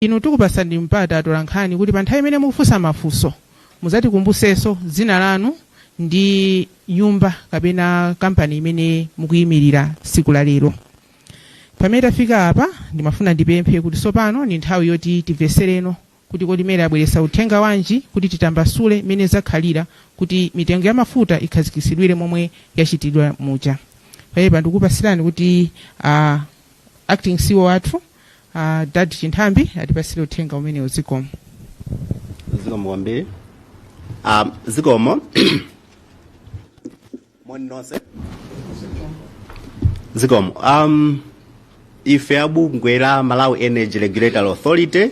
Inu tikupatsaninso mpata atolankhani kuti pa nthawi imene mukufunsa mafunso mudzatikumbusenso dzina lanu ndi nyumba kapena kampani imene mukuyimilira tsiku la lero. Pamene tafika apa ndimafuna ndipemphe kuti tsopano ndi nthawi yoti timvetsereno kuti kodi MERA yabweretsa uthenga wanji kuti titambasule mmene zakhalira kuti mitengo ya mafuta ikhazikitsidwire momwe yachitidwira muja. Pamenepa ndikupatsirani kuti a Acting CEO athu a dad chinthambi atipasire uthenga umenewo zikomo zikomo kwambiri um, zikomo moni nonse zikomo um, ife a bungwe la malawi energy regulatory authority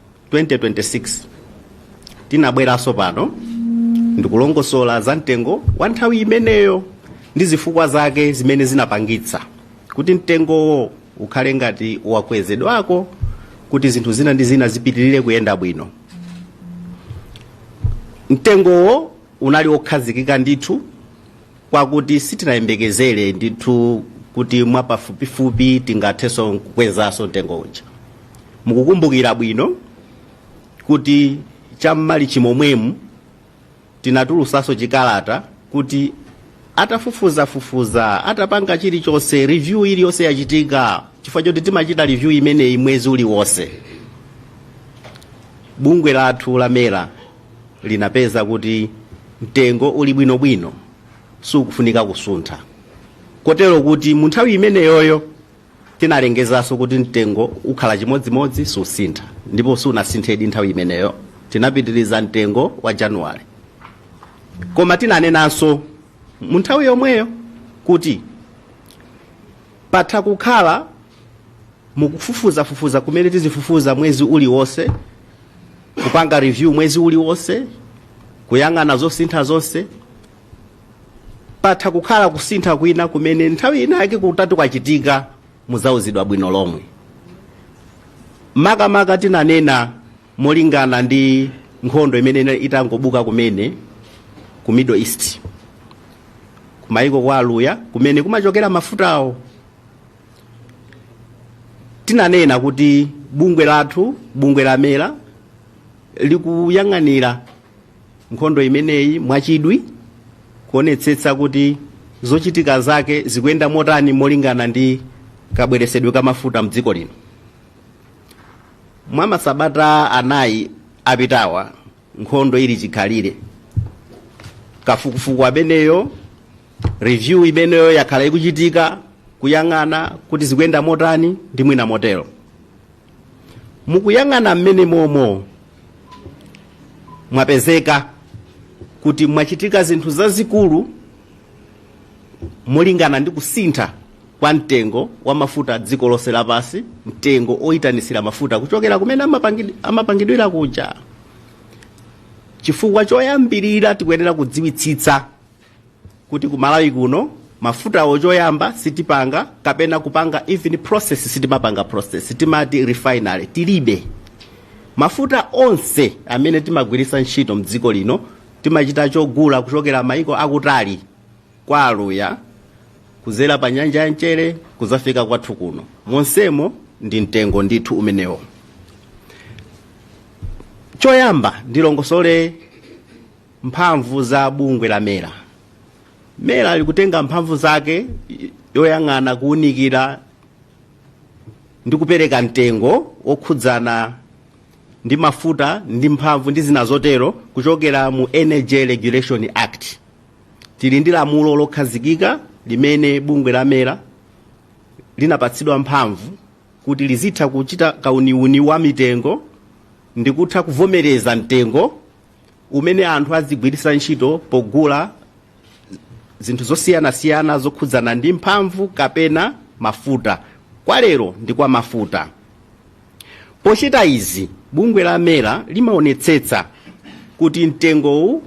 2026 tinabweranso pano ndikulongosola za mtengo wa nthawi imeneyo ndi zifukwa zake zimene zinapangitsa kuti mtengowo ukhale ngati wakwezedwako kuti zinthu zina ndi zina zipitirire kuyenda bwino mtengowo unali wokhazikika ndithu kwakuti sitinayembekezere ndithu kuti mwapafupifupi tingathenso kukwezaso mtengo uja mukukumbukira bwino kuti cham'malichi momwemu tinatulusaso chikalata kuti atafufuzafufuza atapanga chilichonse review iliyonse yachitika chifukwa choti timachita review imeneyi mwezi uliwonse bungwe lathu la mera linapeza kuti mtengo uli bwinobwino suukufunika kusuntha kotero kuti mu nthawi imeneyoyo tinalengezanso kuti mtengo ukhala chimodzimodzi suusintha ndipo suunasinthedi nthawi imeneyo tinapitiriza mtengo wa januwari koma tinanenanso mu nthawi yomweyo kuti Patha kukhala mukufufuzafufuza kumene tizifufuza mwezi uliwonse, kupanga review mwezi uliwonse, kuyang'ana zosintha zonse. Patha kukhala kusintha kwina kumene nthawi inayake kutati kwachitika muzauzidwa bwino lomwe. Makamaka tinanena Molingana ndi nkhondo imene inali itangobuka kumene ku Middle East, kumayiko kwa aluya kumene kumachokera mafutawo, tinanena kuti bungwe lathu, bungwe la mera likuyang'anira nkhondo imeneyi mwachidwi kuonetsetsa kuti zochitika zake zikuyenda motani molingana ndi kabweresedwe ka mafuta mdziko lino. mwa masabata anayi apitawa nkhondo ili chikhalire kafukufuku ameneyo review imeneyo yakhala ikuchitika kuyang'ana kuti zikuyenda motani ndi mwina motero mukuyang'ana mmene momo mwapezeka kuti mwachitika zinthu zazikulu molingana ndi kusintha kwa mtengo wa mafuta dziko lonse lapansi mtengo oyitanitsira mafuta kuchokera kumene amapangid- amapangidwira kuja chifukwa choyambirira tikuyenera kudziwitsitsa kuti ku malawi kuno mafutawo choyamba sitipanga kapena kupanga even process sitimapanga process sitimati refinery tilibe mafuta onse amene timagwiritsa ntchito mdziko lino timachita chogula kuchokera mayiko akutali kwa Aluya kuzera pa nyanja ya mchere kuzafika kwathu kuno monsemo ndi mtengo ndithu umenewo choyamba ndilongosole mphamvu za bungwe la mera mera likutenga mphamvu zake yoyang'ana kuwunikira ndi kupereka mtengo wokhudzana ndi mafuta ndi mphamvu ndi zina zotero kuchokera mu energy regulation act tili ndi lamulo lokhazikika limene bungwe la mera linapatsidwa mphamvu kuti lizitha kuchita kauniuni wa mitengo ndi kutha kuvomereza mtengo umene anthu azigwiritsa ntchito pogula zinthu zosiyanasiyana zokhudzana ndi mphamvu kapena mafuta kwa lero ndi kwa mafuta pochita izi bungwe la mera limaonetsetsa kuti mtengowu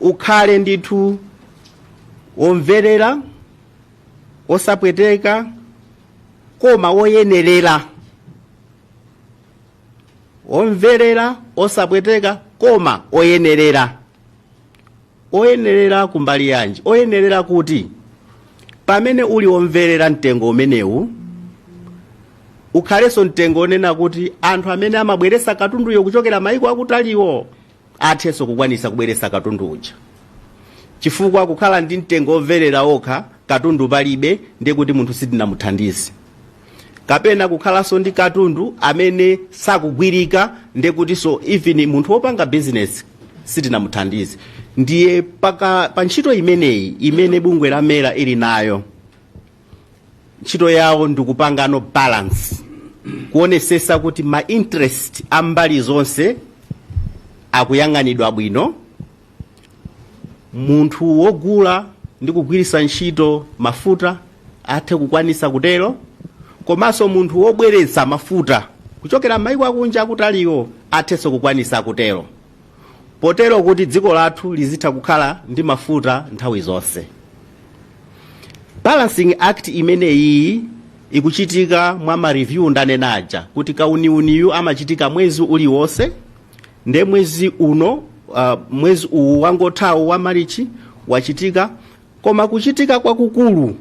ukhale ndithu womverera wosapweteka koma woyenerera womverera wosapweteka koma woyenerera oyenerera kumbali yanji oyenerera kuti pamene uli womverera mtengo umenewu ukhalenso mtengo wonena kuti anthu amene amabweresa katunduyo kuchokera maiko akutaliwo athenso kukwanisa kubweresa katundu uja chifukwa kukhala ndi mtengo womverera okha katundu palibe ndiye kuti munthu sitinamuthandize kapena kukhalanso ndi katundu amene sakugulika ndiye kutinso even munthu wopanga bizinesi sitinamuthandize ndiye paka, pa ntchito imeneyi imene bungwe la mera ili nayo ntchito yawo ndikupangano balance kuonesesa kuti ma interest a mbali zonse akuyang'anidwa bwino munthu wogula ndi kugwiritsa ntchito mafuta athe kukwanisa kutero komanso munthu wobweretsa mafuta kuchokera m'mayiko akunja akutaliwo athenso kukwanisa kutero potero kuti dziko lathu lizitha kukhala ndi mafuta nthawi zonse. Balancing act imeneyiyi ikuchitika mwa ma review ndanena aja kuti kauniuniyu amachitika mwezi uliwonse nde mwe mwezi uwu wangothawu wa marichi wachitika koma kuchitika kwakukulu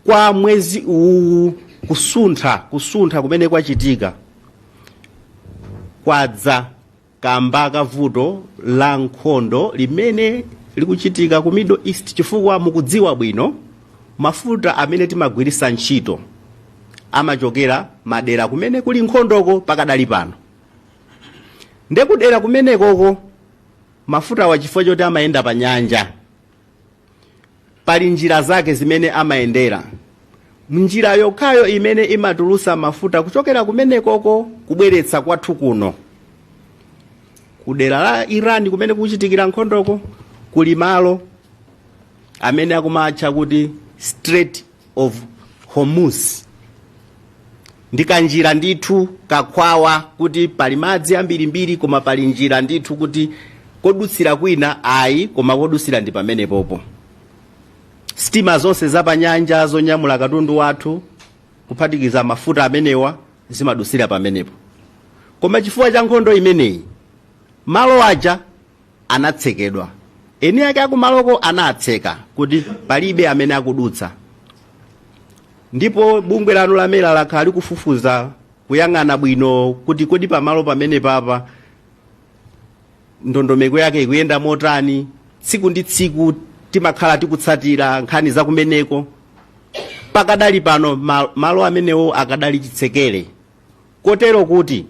kwa mwezi uwu kusuntha kusuntha kumene kwachitika kwadza kamba ka vuto la nkhondo limene likuchitika ku middle east chifukwa mukudziwa bwino mafuta amene timagwiritsa ntchito amachokera madera kumene kuli nkhondoko pakadali pano ndekudera kumenekoko mafutawa chifukwa choti amayenda pa nyanja pali njira zake zimene amayendera njira yokhayo imene imatulusa mafuta kuchokera kumenekoko kubweretsa kwathu kuno kudera la iran kumene kuchitikira nkhondoko kuli malo amene akumatcha kuti Strait of Hormuz ndi kanjira ndithu kakhwawa kuti pali madzi ambirimbiri koma pali njira ndithu kuti kodutsira kwina ayi koma kodutsira ndi pamenepopo sitima zonse zapanyanja zonyamula katundu wathu kuphatikiza mafuta amenewa zimadutsira pamenepo koma chifukwa cha nkhondo imeneyi malo aja anatsekedwa. Eni ake akumaloko anatseka kuti palibe amene akudutsa. Ndipo bungwe lanu la mera lakhala likufufuza kuyang'ana bwino kuti kodi pamalo pamenepapa ndondomeko yake ikuyenda motani tsiku ndi tsiku timakhala tikutsatira nkhani zakumeneko pakadali pano malo amenewo akadali chitsekere kotero kuti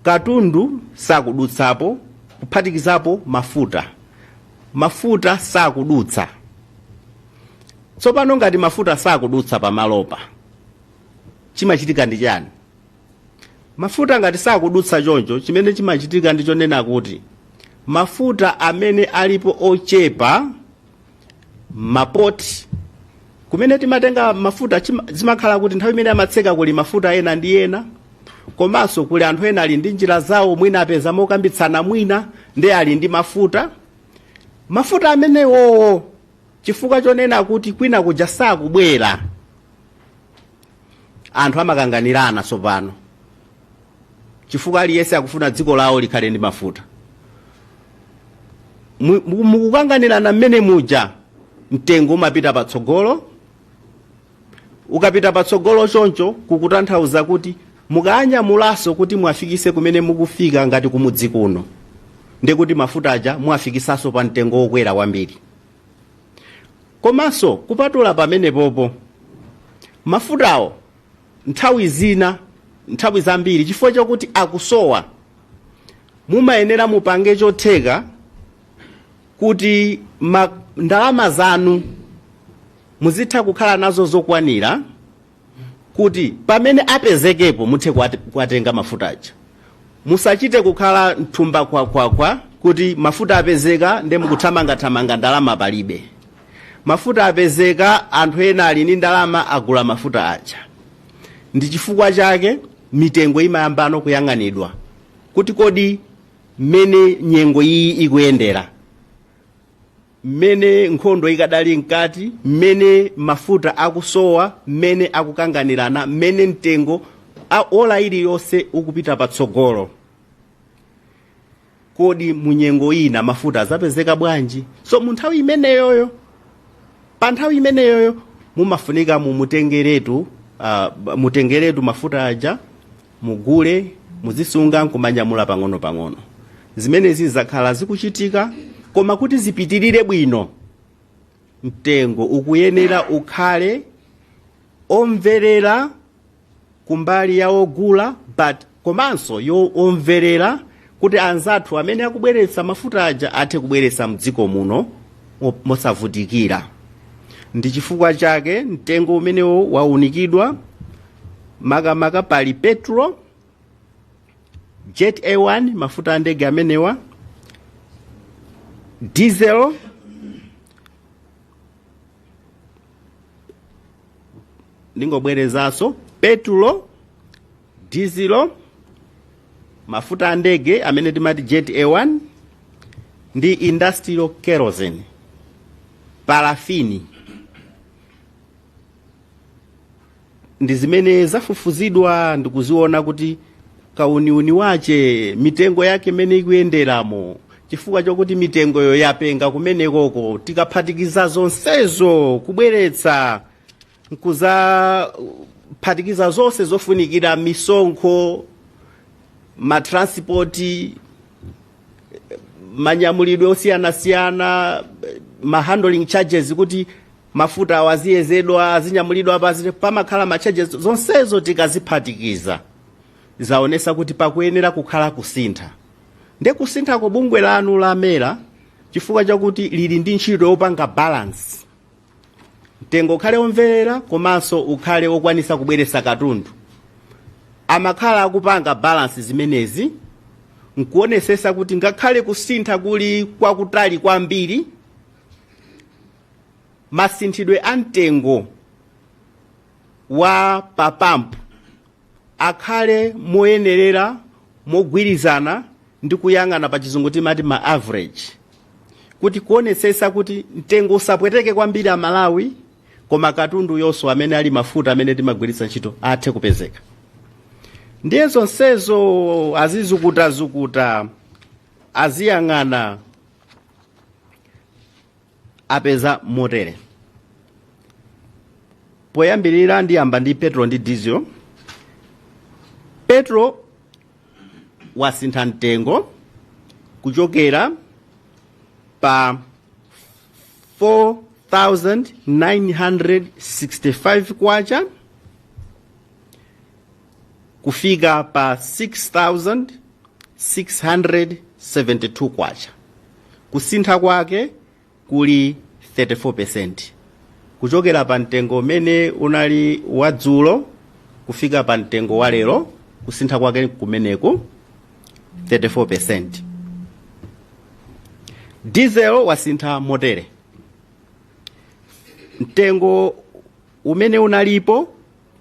katundu sakudutsapo kuphatikizapo mafuta mafuta sakudutsa tsopano ngati mafuta sakudutsa pamalopa chimachitika ndi chani mafuta ngati sakudutsa choncho chimene chimachitika ndi chonena kuti mafuta amene alipo ochepa mapoti kumene timatenga mafuta chima- zimakhala kuti nthawi imene amatseka kuli mafuta ena ndi ena komanso kuli anthu ena ali ndi njira zawo mwina apeza mokambitsana mwina ndi ali ndi mafuta mafuta amenewowo chifukwa chonena kuti kwina kuja sakubwera anthu amakanganirana tsopano chifukwa aliyense akufuna dziko lawo likhale ndi mafuta Mu- mu- mukukanganirana mmene muja mtengo umapita patsogolo ukapita patsogolo choncho kukutanthauza kuti mukanyamulaso kuti muwafikise kumene mukufika ngati kumudzi kuno ndekuti mafuta aja muwafikisaso pa mtengo wokwera kwambiri komanso kupatula pamenepopo mafutawo nthawi zina nthawi zambiri chifukwa chakuti akusowa mumayenera mupange chotheka kuti ma, ndalama zanu muzitha kukhala nazo zokwanira kuti pamene apezekepo muthe kuwat- kuwatenga mafuta aja musachite kukhala mthumba kwakwakwa kuti mafuta apezeka nde mukuthamangathamanga ndalama palibe mafuta apezeka anthu ena ali ndi ndalama agula mafuta aja ndi chifukwa chake mitengo imayambano kuyang'anidwa kuti kodi mmene nyengo iyi ikuyendera mmene nkhondo ikadali mkati mmene mafuta akusowa mmene akukanganirana mmene mtengo a- ola iliyonse ukupita patsogolo kodi munyengo ina mafuta azapezeka bwanji so mu nthawi imeneyoyo pa nthawi imeneyoyo mumafunika mumutengeretu uh, mutengeretu mafuta aja mugule, muzisunga n'kumanyamula pang'onopang'ono. Zimenezi zakhala zikuchitika koma kuti zipitirire bwino mtengo ukuyenera ukhale omverera kumbali ya ogula but komanso womverera kuti anzathu amene akubweretsa mafuta aja athe kubweretsa mdziko muno mo- mosavutikira ndi chifukwa chake mtengo umenewo waunikidwa makamaka pali petulo jet a1 mafuta a ndege amenewa diesel ndingobwerezanso petulo dizilo, mafuta a ndege amene timati jet a1 ndi industrial kerosene, parafini ndi zimene zafufuzidwa ndikuziona kuti kauniuni wache mitengo yake imene ikuyenderamo chifukwa chokuti mitengoyo yapenga kumenekoko tikaphatikiza zonsezo kubweretsa nkuzaphatikiza zonse zofunikira misonkho matranspoti manyamulidwe osiyanasiyana mahandling charges kuti mafuta awa aziyezedwa azinyamulidwa pa pamakhala macharges zonsezo tikaziphatikiza zaonesa kuti pakuyenera kukhala kusintha nde kusinthako bungwe lanu lamera chifukwa chakuti lili ndi ntchito yopanga balance mtengo ukhale womverera komanso ukhale wokwanisa kubweresa katundu amakhala akupanga balansi zimenezi nkuonesesa kuti ngakhale kusintha kuli kwakutali kwambiri masinthidwe a mtengo wa papampu akhale moyenerera mogwirizana ndi kuyang'ana pa chizungu timati ma average kuti kuonetsetsa kuti mtengo usapweteke kwambiri amalawi koma katunduyonso amene ali mafuta amene timagwiritsa ntchito athe kupezeka ndiye zonsezo azizukutazukuta aziyang'ana apeza motere poyambirira ndiyamba ndi petro ndi dizilo petro wasintha mtengo kuchokera pa 4965 kwacha kufika pa 6672 kwacha kusintha kwake kuli 34% kuchokera pa mtengo umene unali wadzulo kufika pa mtengo wa lero kusintha kwake kumeneku 34% diesel wasintha motere mtengo umene unalipo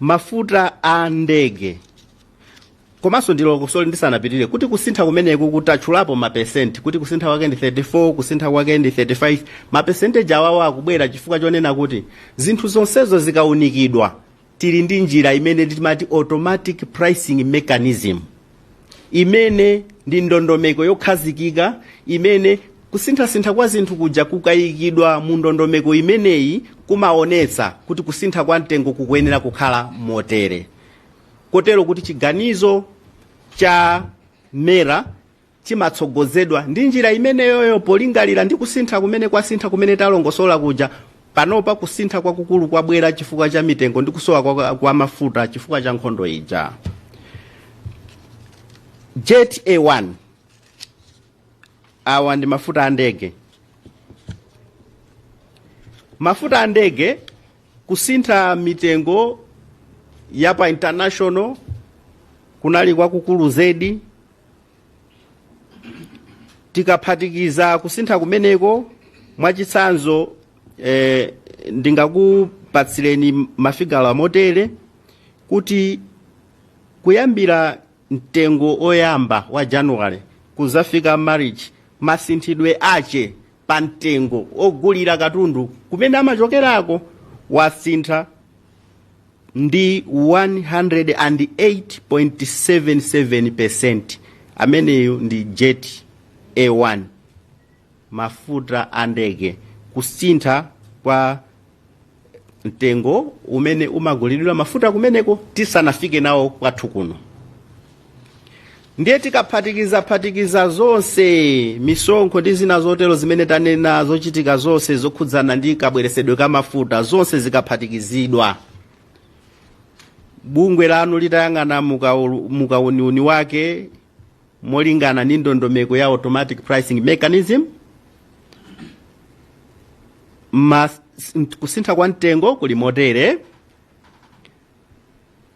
mafuta a ndege komanso ndilongosole ndisanapitirire kuti kusintha kumeneku kutatchulapo mapesenti kuti kusintha kwake ndi 34 kusintha kwake ndi 35 mapesenteji awawa akubwera chifukwa chonena kuti zinthu zonsezo zikaunikidwa tili ndi njira imene timati automatic pricing mechanism imene ndi ndondomeko yokhazikika imene kusinthasintha kwa zinthu kuja kukayikidwa mu ndondomeko imeneyi kumaonetsa kuti kusintha kwa mtengo kukuyenera kukhala motere kotero kuti chiganizo cha MERA chimatsogozedwa ndi njira imeneyoyo polingalira ndi kusintha kumene kwasintha kumene talongosola kuja Panopa kusintha kwakukulu kwabwera chifukwa cha mitengo ndi kusowa kwa, kwa mafuta chifukwa cha nkhondo ija. Jet A1 awa ndi mafuta a ndege. Mafuta a ndege kusintha mitengo ya pa international kunali kwakukulu zedi tikaphatikiza kusintha kumeneko mwachitsanzo eh, ndingakupatsireni mafigala motere kuti kuyambira mtengo oyamba wa january kuzafika March masinthidwe ache pa mtengo ogulira katundu kumene amachokerako wasintha ndi 108.77%. Ameneyo ndi Jet A1 mafuta a ndege. Kusintha kwa mtengo umene umagulidwira mafuta kumeneko tisanafike nawo kwathu kuno. ndiye tikaphatikizaphatikiza zonse misonkho ndi zina zotero zimene tanena zochitika zonse zokhudzana ndi kabweresedwe ka mafuta zonse zikaphatikizidwa bungwe lanu litayang'ana mukaulu- mukauniuni wake molingana ndi ndondomeko ya automatic pricing mechanism mas, kusintha kwa mtengo kuli motere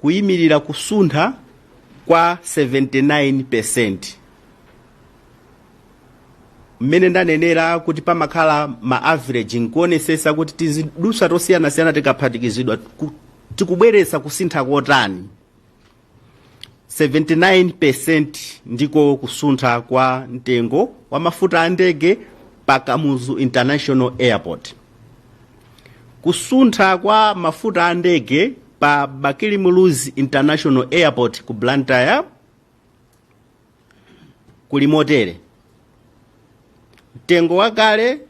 kuyimirira kusuntha kwa 79% mmene ndanenera kuti pamakhala ma average nkuonesesa kuti tizidutswa tosiyanasiyana tikaphatikizidwa ku- tikubweretsa kusintha kotani 79% ndiko kusuntha kwa mtengo wa mafuta a ndege pa kamuzu international airport kusuntha kwa mafuta a ndege pa bakili muluzi international airport ku blantyre kuli motere mtengo wakale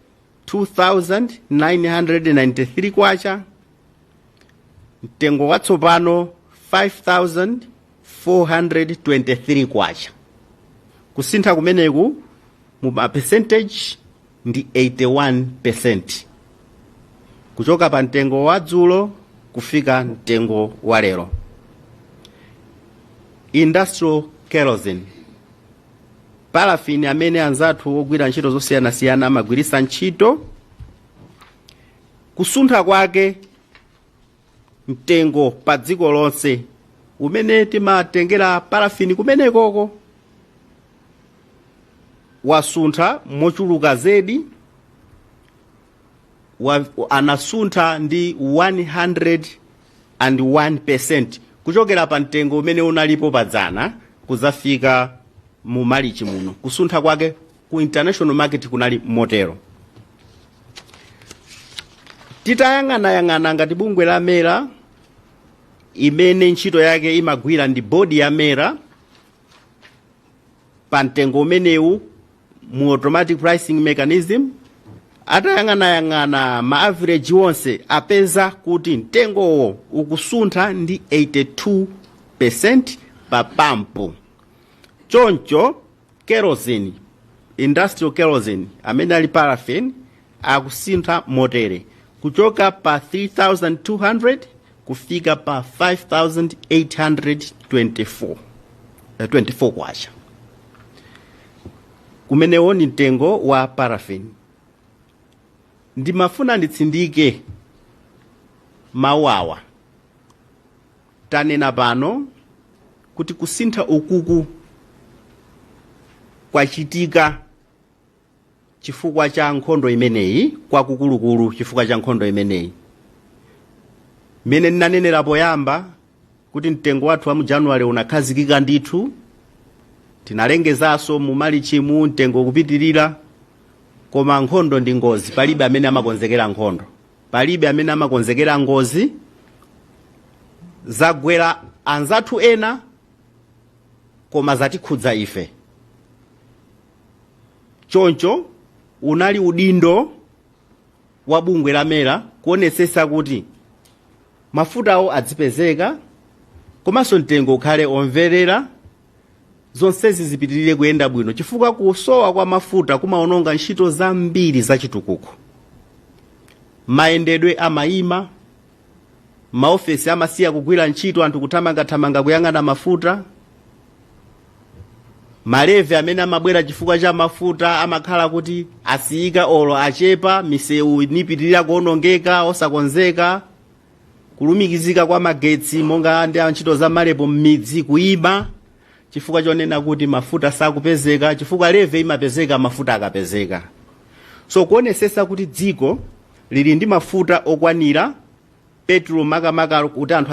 2993 kwacha mtengo watsopano 5423 kwacha kusintha kumeneku mu ma percentage ndi 81 percenti kuchoka pa mtengo wa dzulo kufika mtengo wa lero. Industrial kerosene parafini amene anzathu ogwira ntchito zosiyanasiyana amagwiritsa ntchito kusuntha kwake mtengo pa dziko lonse umene timatengera parafini kumenekoko wasuntha mochuluka zedi, anasuntha ndi 101% kuchokera pa mtengo umene unalipo padzana kuzafika mu malichi muno kusuntha kwake ku international market kunali motero titayang'anayang'ana ngati bungwe la mera imene ntchito yake imagwira ndi bodi ya mera pa mtengo umenewu mu automatic pricing mechanism atayang'anayang'ana ma average onse apeza kuti mtengowo ukusuntha ndi 82 percent pa pampu choncho kerosene industrial kerosene amene ali paraffin akusintha motere kuchoka pa 3200 kufika pa 5824 kwacha umenewo ndi mtengo wa paraffin ndimafuna nditsindike mawu awa Tanena pano kuti kusintha ukuku kwachitika chifukwa cha nkhondo imeneyi, kwakukulukulu chifukwa cha nkhondo imeneyi. Mmene ndinanenera poyamba kuti mtengo wathu wa mu January unakhazikika ndithu, tinalengezanso mu Malichimu mtengo ukupitirira, koma nkhondo ndi ngozi, palibe amene amakonzekera nkhondo. Palibe amene amakonzekera ngozi. Zagwera anzathu ena koma zatikhudza ife. Choncho unali udindo wa bungwe la MERA kuonetsetsa kuti mafutawo adzipezeka komanso mtengo ukhale omverera. zonsezi zipitirire kuyenda bwino chifukwa kusowa kwa mafuta kumaononga ntchito zambiri zachitukuko mayendedwe amayima maofesi amasiya kugwira ntchito anthu kuthamangathamanga kuyang'ana mafuta malevi amene amabwera chifukwa cha mafuta amakhala kuti asiyika olo achepa misewu nipitirira kuonongeka osakonzeka kulumikizika kwa magetsi monga ndi antchito za matrip m'midzi kuima chifukwa chonena kuti mafuta sakupezeka chifukwa levy imapezeka mafuta akapezeka so kuonesesa kuti dziko lili ndi mafuta okwanira petulo makamaka kuti anthu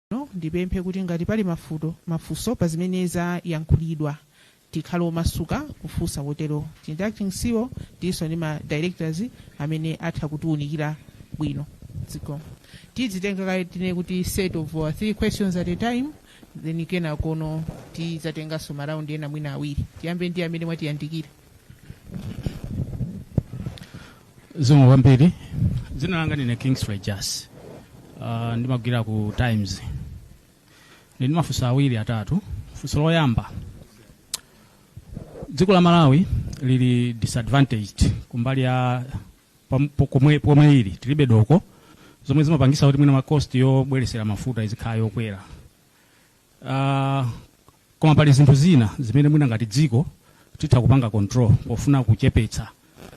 Tsopano ndipemphe kuti ngati pali mafuto, mafunso pa zimene zayankhulidwa tikhale omasuka kufunsa poti tili ndi acting ceo tilinso ndi ma directors amene atha kutiunikira bwino. Zikomo. Tidzitenga kaye tinene kuti set of 3 questions at a time then kenakono tidzatenganso ma round ena mwina awiri. Tiyambe ndi amene mwatiyandikira. zikomo kwambiri dzina langa ndine kingsley jassi uh, ndimagwira ku times ndili ndi mafunso awiri atatu funso loyamba dziko la malawi lili disadvantaged kumbali ya pam- po- komwe pomwe ili tilibe doko zomwe zimapangisa kuti mwina ma cost yobweresera mafuta izikhala yokwera Uh, koma pali zinthu zina zimene mwina ngati dziko titha kupanga control pofuna kuchepetsa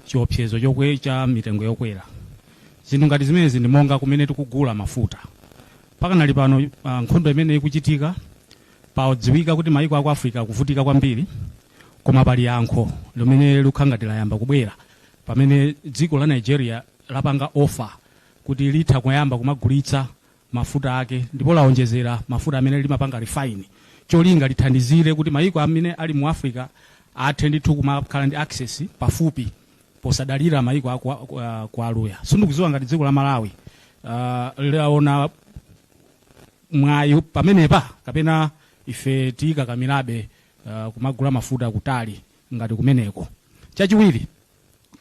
chiopsezo chokwe cha mitengo yokwera zinthu ngati zimenezi ndi monga kumene tikugula mafuta pakadali pano uh, nkhondo imene ikuchitika zadziwika kuti mayiko aku africa akuvutika kwambiri koma pali yankho limene likukhala ngati layamba kubwera pamene dziko la nigeria lapanga offer kuti litha kuyamba kumagulitsa mafuta ake ndipo lawonjezera mafuta amene limapanga refine cholinga lithandizire kuti mayiko amene ali mu Africa athe ndithu kumakhala ndi access pafupi posadalira mayiko a kwa, kwa, kwa aluya sindikudziwa ngati dziko la malawi uh, laona mwayi pamenepa kapena ife tikakamirabe uh, kumagula mafuta kutali ngati kumeneko chachiwiri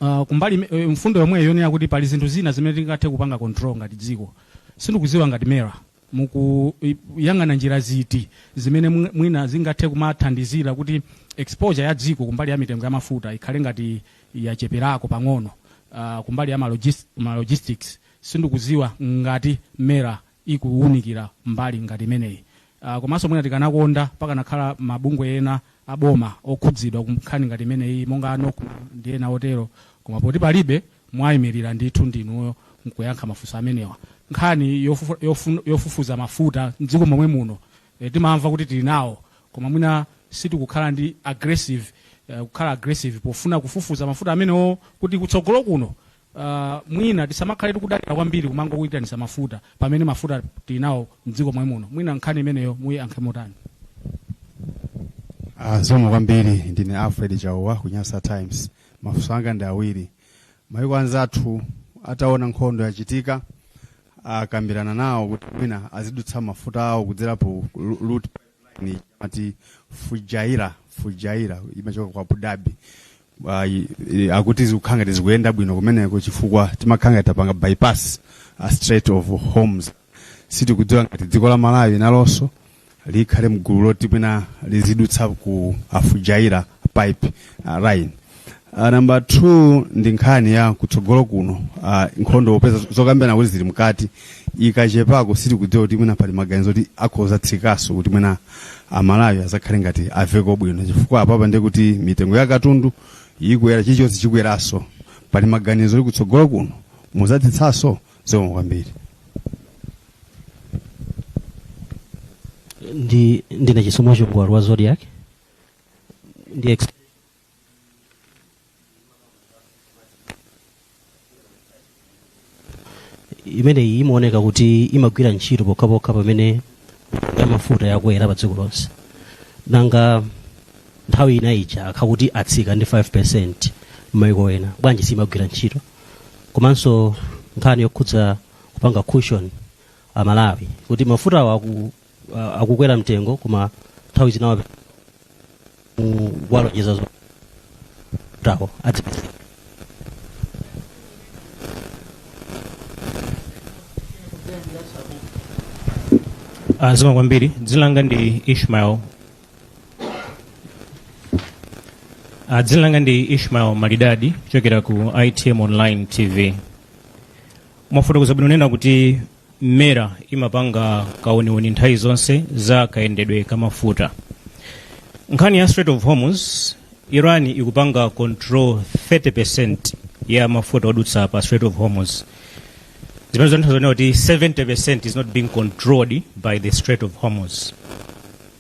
uh, kumbali ime- eh, mfundo yomweyo yonena kuti pali zinthu zina zimene tingathe kupanga control ngati dziko sindikuziwa ngati mera mukuyang'ana njira ziti zimene mwi- mwina zingathe kumathandizira kuti exposure ya dziko kumbali ya mitengo ya mafuta ikhale ngati yacheperako pang'ono uh, kumbali ya malogis- malogistics sindikuziwa ngati mera ikuunikira mbali ngati imeneyi uh, komanso mwina tikanakonda pakanakhala mabungwe ena aboma okhudzidwa kunkhani ngati imeneyi monga a nocma ndi ena otero koma poti palibe mwayimirira ndithu ndinuyo kuyankha mafunso amenewa nkhani yofufu- yofu- yofufuza mafuta mdziko momwe muno eh, timamva kuti tili nawo koma mwina sitikukhala ndi aggressive eh, kukhala aggressive pofuna kufufuza mafuta amenewo kuti kutsogolo kuno Uh, mwina tisamakhale tikudalira kwambiri kumangoitanitsa mafuta pamene mafuta tinawo mdziko momwe muno mwina nkhani imeneyo muyiyankhe motani uh, zikomo kwambiri ndine alfred chauwa ku nyasa times mafunso anga ndi awiri maiko anzathu ataona nkhondo yachitika akambirana nawo kuti mwina azidutsa mafuta awo kudzera po route ni amati fujaira fujaira imachoka ku abu dhabi Ah, i- i- akuti zikukhala ngati zikuyenda bwino kumeneko chifukwa timakhala ngati tapanga bypass a strait of hormuz sitikudziwa ngati dziko la malawi nalonso likhale mgulu loti mwina lizidutsa ku fujaira pipe uh, line Uh, namba 2 ndi nkhani ya kutsogolo kuno uh, nkhondo popeza zokambirana akuti zili mkati ikatherako sitikudziwa kuti mwina pali maganizo kuti akhoza kutsikaso kuti mwina amalawi azakhale ngati aveko bwino chifukwa apapa ndi kuti mitengo ya katundu ikukwera chilichonse chikukweraso pali maganizo kuti kutsogolo kuno muzatsitsaso zikomo kwambiri ndi ndine chisomo chongwalo wa zodiak ndi ex- imeneyi imaoneka kuti imagwira ntchito pokhapokha pamene ya mafuta yakwera pa dziko lonse nanga nthawi ina ija akakhala kuti atsika ndi 5 percent m'mayiko ena bwanji simagwira ntchito komanso nkhani yokhudza kupanga cushion amalawi kuti mafutawo aku- uh, akukwera mtengo koma nthawi zina wape- ku- kuwalonjeza zo tawo adzipeza Ah, zikomo kwambiri dzina langa ndi ishmael Ah, dzina langa ndi ishmael malidadi kuchokera ku itm online tv mwafotokoza bwino kunena kuti mera imapanga kauniuni nthawi zonse za kayendedwe ka mafuta nkhani ya strait of hormuz iran ikupanga control 30 percent ya mafuta odutsa pa strait of hormuz zimene zikutanthauza kunena kuti 70 percent is not being controlled by the strait of hormuz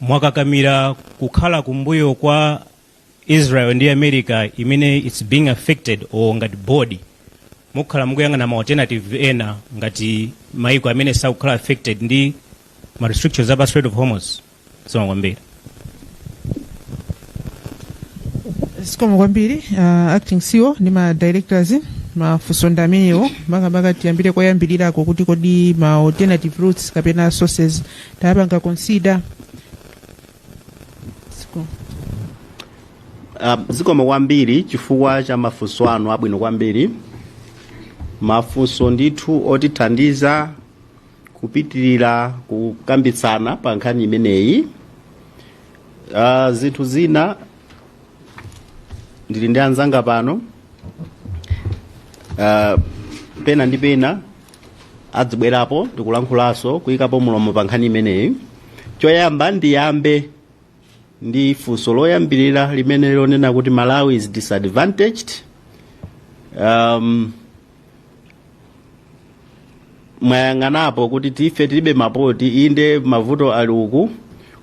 mwakakamira kukhala kumbuyo kwa israel ndi america imene its being affected or ngati body mukhala mukuyang'ana ma alternative ena ngati maiko amene sakukhala affected ndi ma restrictions apa strait of hormuz zikomo kwambiri zikomo kwambiri uh, acting ceo ndi ma directors mafunso ndi amenewo makamaka tiyambire koyambirirako kuti kodi ma alternative routes kapena sources tayapanga consider Zikomo. Um, zikomo kwambiri chifukwa cha mafunso anu abwino kwambiri mafunso ndithu otithandiza kupitirira kukambitsana pa nkhani imeneyi uh, zinthu zina ndili ndi anzanga pano uh, pena ndi pena adzibwerapo ndikulankhulanso kuyikapo mulomo pa nkhani imeneyi choyamba ndiyambe ndi funso loyambirira limene ilo lonena kuti malawi is disadvantaged um, mwayang'anapo kuti ife tilibe mapoti inde mavuto ali uku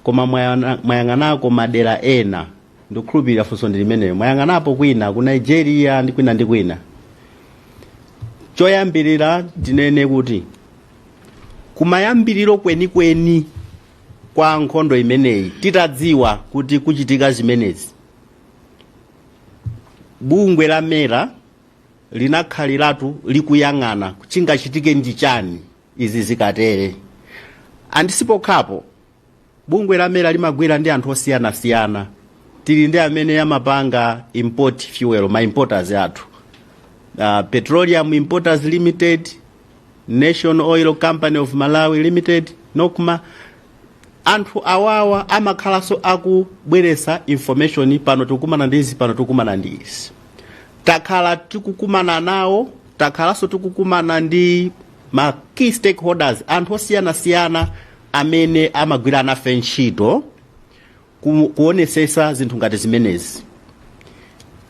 koma mwayana- mwayang'anako madera ena ndikukhulupirira funso ndi limenelo mwayang'anapo kwina ku nigeria ndi kwina ndi kwina choyambirira tinene kuti kumayambiriro kwenikweni kwa nkhondo imeneyi titadziwa kuti kuchitika zimenezi bungwe la mera linakhaliratu likuyang'ana chingachitike ndi chani izi zikatere andi sipokhapo bungwe la mera limagwira ndi anthu osiyanasiyana tili ndi amene amapanga import fuel ma importers athu uh, petroleum importers limited national oil company of malawi limited nocma anthu awawa amakhalanso akubweretsa information pano tikukumana ndi izi pano tikukumana ndi izi takhala tikukumana nawo takhalanso tikukumana ndi ma key stakeholders anthu osiyanasiyana amene amagwira nafe ntchito ku- kuonesesa zinthu ngati zimenezi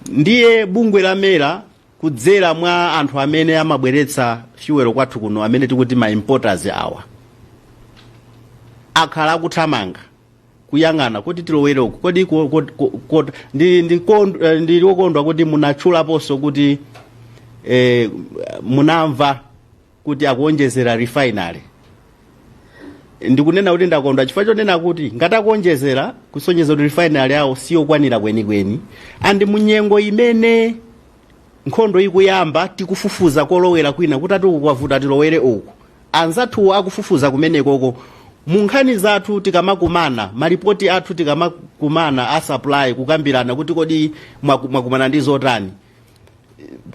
ndiye bungwe la mera kudzera mwa anthu amene amabweretsa fuel kwathu kuno amene tikuti ma importers awa akhala akuthamanga kuyang'ana kuti tilowere uku kodi ko- ko- ko- ko- ndi- ndi kond- eh, ndili wokondwa kuti munatchulaponso kuti eh, munamva kuti akuonjezera refinery ndikunena kuti ndakondwa chifukwa chonena kuti ngati akuonjezera kusonyeza kuti refinery yawo siyokwanira kwenikweni andi munyengo imene nkhondo ikuyamba tikufufuza kolowera kwina kuti ati uku kwavuta tilowere uku anzathuwo akufufuza kumenekoko mu nkhani zathu tikamakumana malipoti athu tikamakumana a supply kukambirana kuti kodi mwaku- mwakumana ndi zotani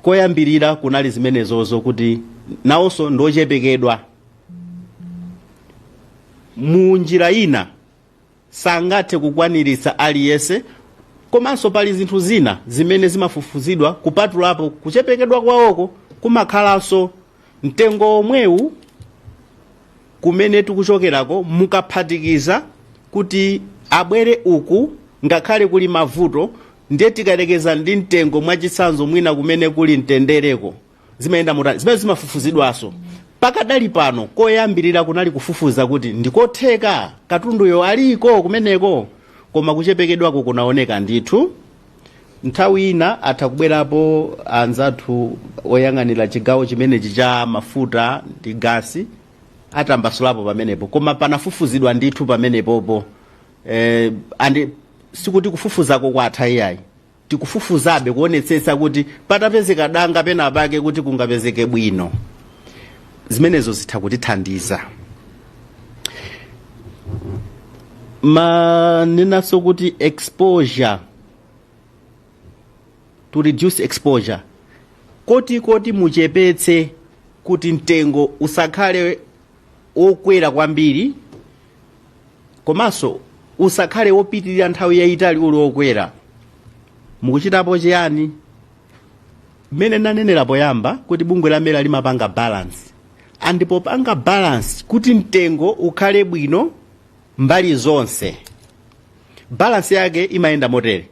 koyambirira kunali zimenezozo kuti nawonso ndiochepekedwa mu njira ina sangathe kukwaniritsa aliyense komanso pali zinthu zina zimene zimafufuzidwa kupatulapo kuchepekedwa kwawoko kumakhalanso mtengo omwewu kumene tikuchokerako mukaphatikiza kuti abwere uku ngakhale kuli mavuto ndiye tikayerekeza ndi mtengo mwachitsanzo mwina kumene kuli mtendereko zimayenda motani zimene zimafufuzidwanso pakadali pano koyambirira kunali kufufuza kuti ndikotheka katunduyo aliko kumeneko koma kuchepekedwako kunaoneka ndithu nthawi ina atha kubwerapo anzathu oyang'anira chigawo chimenechi cha mafuta ndi gasi atambasulapo pamenepo koma panafufuzidwa ndithu pamenepopo eh, andi sikuti kufufuzako kwatha iyayi tikufufuzabe kuonetsetsa kuti patapezeka danga pena pake kuti kungapezeke bwino zimenezo zitha kutithandiza mwanenanso kuti exposure to reduce exposure kuti kuti muchepetse kuti mtengo usakhale wokwera kwambiri komanso usakhale wopitirira nthawi yayitali uli wokwera mukuchitapo chiyani mmene nanenera poyamba kuti bungwe la mera limapanga balance and popanga balance kuti mtengo ukhale bwino mbali zonse balance yake imayenda motere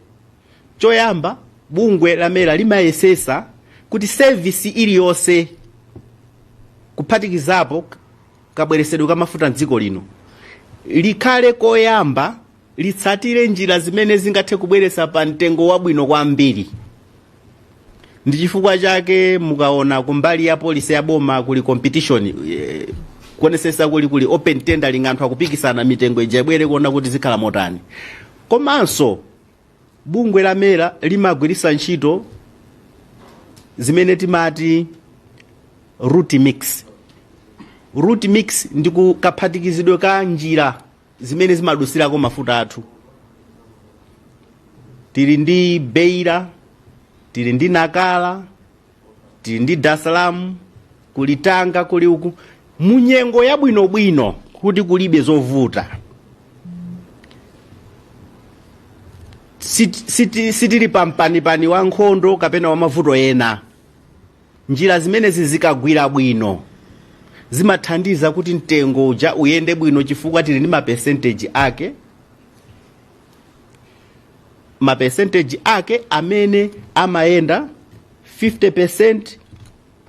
choyamba bungwe la mera limayesesa kuti sevisi iliyonse kuphatikizapo kabweresedwe ka mafuta mdziko lino likhale koyamba litsatire njira zimene zingathe kubweretsa pa mtengo wabwino kwambiri ndi chifukwa chake mukaona kumbali ya policy ya boma kuli competition eh, kuonesesa kuli kuli open tendering anthu akupikisana mitengo ija ibwere kuona kuti zikhala motani komanso bungwe la mera limagwiritsa ntchito zimene timati route mix route mix ndi kaphatikizidwe ka njira zimene zimadusirako mafuta athu tili ndi beira tili ndi nakala tili ndi dasalamu kuli tanga kuli uku munyengo yabwinobwino kuti kulibe zovuta Sit- siti- sitili pampanipani wa nkhondo kapena wa mavuto ena Njira zimenezi zikagwira bwino zimathandiza kuti mtengo uja uyende bwino chifukwa tili ndi mapesenteji ake mapesenteji ake amene amayenda 50%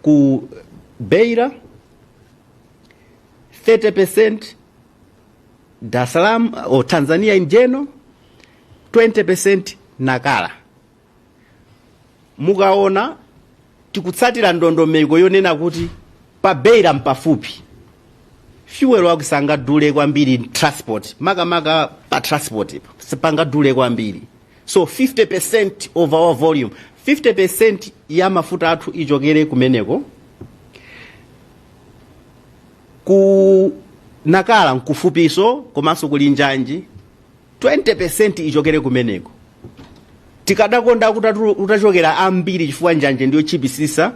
ku Beira 30% Dar es Salaam or Tanzania in general 20% Nacala mukaona tikutsatira ndondomeko yonena kuti pa beira mpafupi fuel wake sangadule kwambiri transport makamaka pa transport sipangadule kwambiri so 50% of our volume 50% ya mafuta athu ichokere kumeneko ku nakala nkufupinso komanso kuli njanji 20% ichokere kumeneko tikadakonda kuti atu- utachokera ambiri chifukwa njanji ndi yotchipitsitsa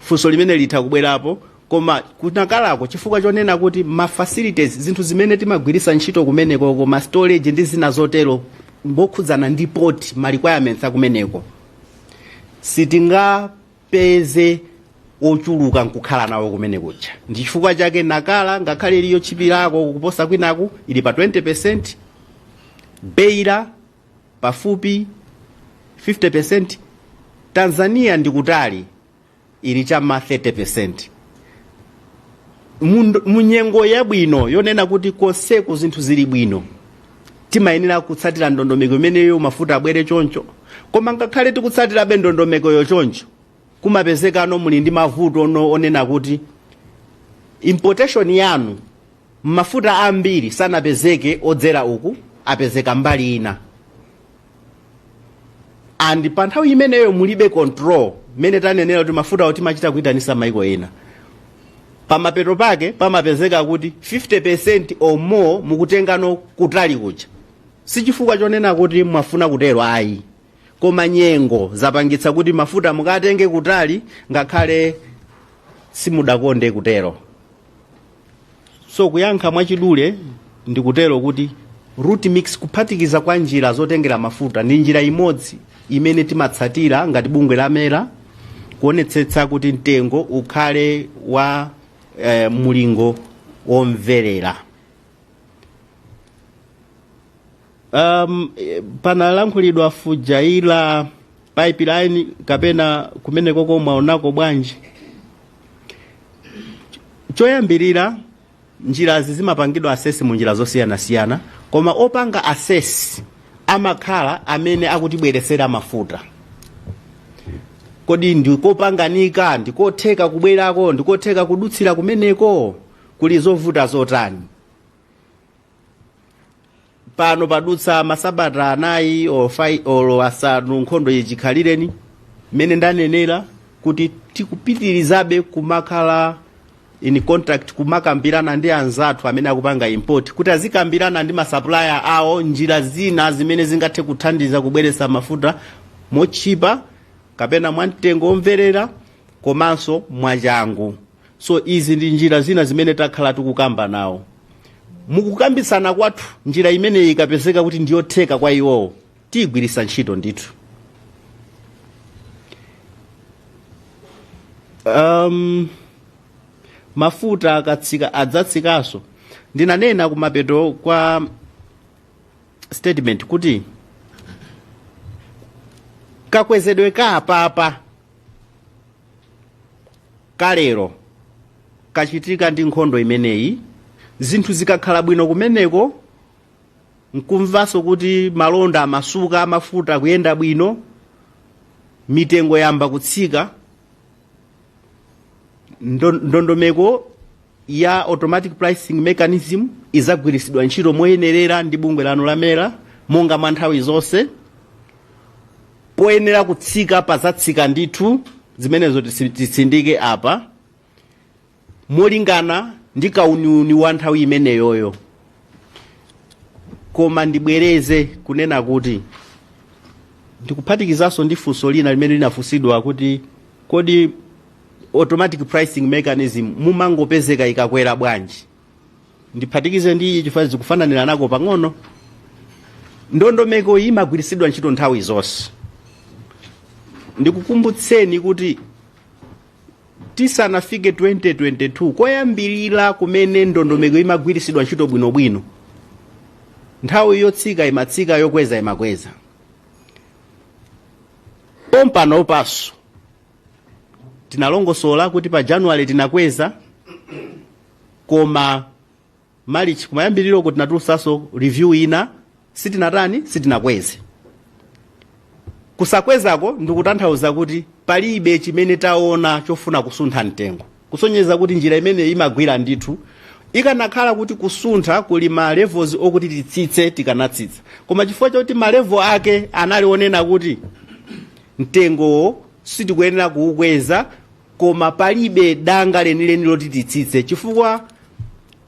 funso limene litha kubwerapo koma kunakalako chifukwa chonena kuti ma facilities zinthu zimene timagwiritsa ntchito kumeneko koma storage ndi zina zotero mokhudzana ndi port ma requirements akumeneko sitinga peze ochuluka nkukhala nawo kumene kuja ndi chifukwa chake nakala ngakhale ili yotchipirako kuposa kwinaku ili pa 20% beira pafupi 50% tanzania ndi kutali ili cha m'ma 30% mu nyengo yabwino yonena kuti konseku zinthu zili bwino timayenera kutsatira ndondomeko imeneyo mafuta abwere choncho koma ngakhale tikutsatirabe ndondomekoyo choncho kumapezekano muli ndi mavutono onena kuti importation yanu mafuta ambiri sanapezeke odzera uku apezeka mbali ina and pa nthawi imeneyo mulibe control mmene tanenera kuti mafutawo timachita kuyitanitsa maiko ena pamapeto pake pamapezeka kuti 50% or more mukutengano kutali kuja sichifukwa chonena kuti mwafuna kutero ayi koma nyengo zapangitsa kuti mafuta mukatenge kutali ngakhale simudakonde kutero so kuyankha mwachidule ndikutero kuti route mix kuphatikiza kwa njira zotengera mafuta ndi njira imodzi imene timatsatira ngati bungwe la mera kuonetsetsa kuti mtengo ukhale wa eh, mulingo womverera um, eh, panalankhulidwa Fujairah pipeline kapena kumene koko mwaonako bwanji choyambirira njirazi zimapangidwa assess mu njira zosiyanasiyana koma opanga assess amakhala amene akutibweresera mafuta kodi nzopanganika ndikotheka kubwerako ndikotheka kudutsira kumeneko kuli zovuta zotani pano padutsa masabata anayi olo fi- olo asanu nkhondo ichitikireni mmene ndanenera kuti tikupitirizabe kumakhala in contact kumakambirana ndi anzathu amene akupanga import kuti azikambirana ndi masupplier awo njira zina zimene zingathe kuthandiza kubweretsa mafuta motchipa kapena mwamtengo omvererana komanso mwachangu so izi ndi njira zina zimene takhala tikukamba nawo mukukambitsana kwathu njira imeneyi ikapezeka kuti ndiyotheka kwa iwowo tiyigwiritsa ntchito ndithu um, mafuta akatsika adzatsikanso ndinanena kumapeto kwa statement kuti kakwezedwe ka apapa kalero kachitika ndi nkhondo imeneyi zinthu zikakhala bwino kumeneko nkumvanso kuti malonda amasuka amafuta kuyenda bwino mitengo yamba kutsika Ndo- ndondomeko ya automatic pricing mechanism izagwiritsidwa ntchito moyenerera ndi bungwe lanu la MERA monga mwa nthawi zonse poyenera kutsika pazatsika ndithu zimenezo tisi- titsindike apa molingana ndi kauniuni wa nthawi imeneyoyo koma ndibwereze kunena kuti ndikuphatikizanso ndi funso lina limene linafunsidwa kuti kodi automatic pricing mechanism mumangopezeka ikakwera bwanji ndiphatikize ndi ichi chifukwa zikufananira nako pang'ono ndondomeko iyi imagwiritsidwa ntchito nthawi zonse ndikukumbutseni kuti tisanafike 2022 koyambirira kumene ndondomeko imagwiritsidwa ntchito bwinobwino nthawi yotsika imatsika yokweza imakweza pompanopanso tinalongosola kuti pa January tinakweza koma malichi kumayambiriroko tinatulusaso review ina sitinatani sitinakweze kusakwezako ndikutanthauza kuti palibe chimene taona chofuna kusuntha mtengo kusonyeza kuti njira imeneyo imagwira ndithu ikanakhala kuti kusuntha kuli ma levels okuti titsitse tikanatsitsa koma chifukwa choti ma level ake anali onena kuti mtengowo sitikuyenera kuukweza koma palibe danga lenileni loti titsitse chifukwa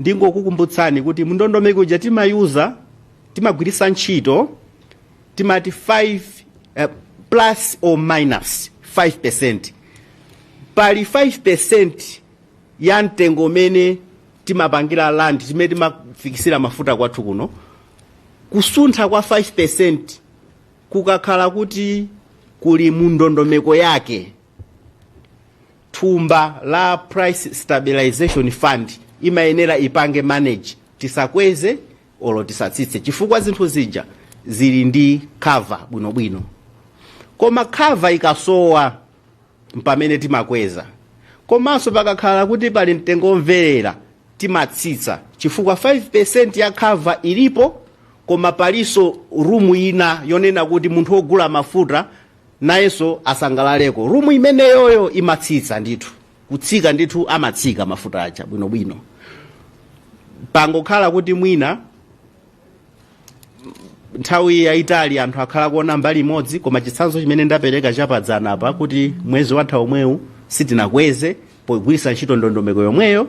ndingokukumbutsani kuti mndondomeko uja timayuza timagwiritsa ntchito timati 5 eh, plus or minus 5 percent pali 5 percent ya mtengo umene timapangira land imene timafikisira mafuta kwathu kuno kusuntha kwa 5 percent kukakhala kuti kuli mundondomeko yake thumba la price stabilization fund imayenera ipange manage tisakweze olo tisatsitse chifukwa zinthu zija zili ndi cover bwinobwino koma cover ikasowa mpamene timakweza komanso pakakhala kuti pali mtengo womverera timatsitsa chifukwa 5% ya cover ilipo koma palinso rumu ina yonena kuti munthu wogula mafuta nayenso asangalaleko. Room imeneyoyo imatsitsa ndithu, kutsika ndithu amatsika mafuta aja bwinobwino. Pangokhala kuti mwina nthawi yayitali anthu akhala kuona mbali imodzi, koma chitsanzo chimene ndapereka chapadzana apa kuti mwezi watha omwewu sitinakweze pogwiritsa ntchito ndondomeko yomweyo.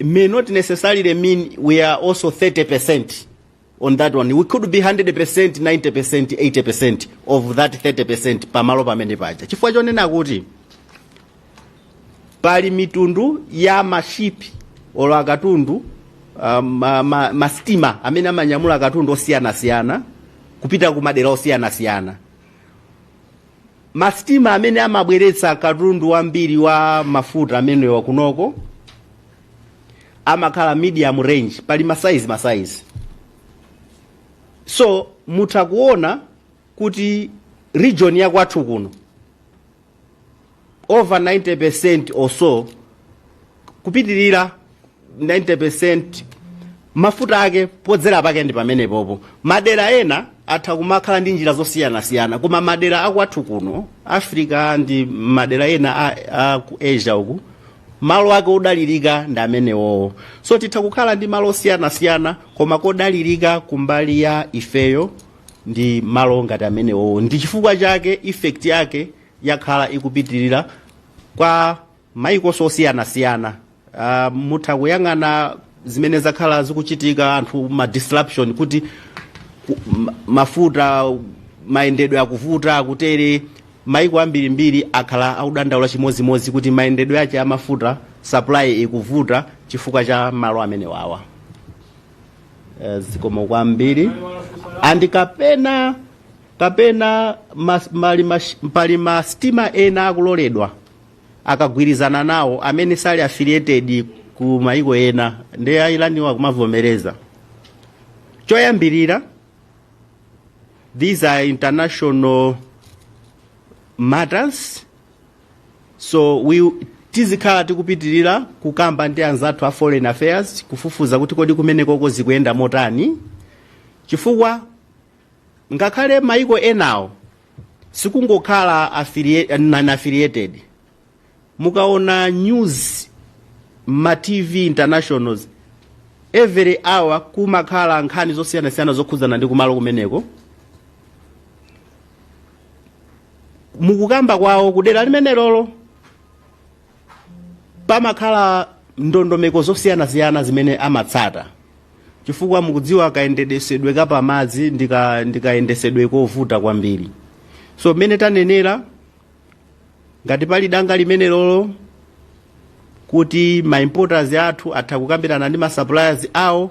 may not necessarily mean we are also 30% on that one. We could be 100%, 90%, 80% of that 30% pamalo pamene paja. Chifukwa chonena kuti pali mitundu ya mashipi olo akatundu um, ma, ma, mastima amene amanyamula akatundu osiyanasiyana kupita ku madera osiyanasiyana Masitima amene amabweretsa katundu wambiri wa mafuta amenewa kunoko amakhala medium range, pali masaizi masaizi, so mutha kuona kuti region ya kwathu kuno over 90% or so kupitirira 90% mafuta ake podzera pake ndi pamenepopo madera ena atha kumakhala ndi njira zosiyanasiyana koma madera akwathu kuno africa ndi madera ena a, a ku asia uku malo ake odalirika ndi amenewowo so titha kukhala ndi malo osiyanasiyana koma kodalirika kumbali ya ifeyo ndi malo ngati amenewowo ndi chifukwa chake effect yake yakhala ikupitirira kwa mayiko osiyanasiyana uh, mutha kuyang'ana zimene zakhala zikuchitika anthu ma disruption kuti ku- ma- mafuta mayendedwe akuvuta akutere maiko ambirimbiri akhala akudandaula chimodzimodzi kuti mayendedwe ache amafuta supply ikuvuta chifukwa cha malo amenewawa Eh, zikomo kwambiri andi kapena kapena mas, mali mas, pali masitima ena akuloledwa akagwirizana nawo amene sali affiliated ku mayiko ena ndi a Iran-wo akumavomereza choyambirira these are international matters so we tizikhala tikupitirira kukamba ndi anzathu a foreign affairs kufufuza kuti kodi kumenekoko zikuyenda motani chifukwa ngakhale maiko enawo sikungokhala affiliate- non-affiliated mukaona news mma tv internationals every hour kumakhala nkhani zosiyanasiyana zokhudzana ndi kumalo kumeneko mukukamba kwawo kudera limenelolo pamakhala ndondomeko zosiyanasiyana zimene amatsata chifukwa mukudziwa kayendetsedwe kapamadzi ndika- ndi kayendetsedwe kovuta kwambiri so mmene tanenera ngati pali danga limenelolo kuti ma importers athu atha kukambirana ndi ma suppliers awo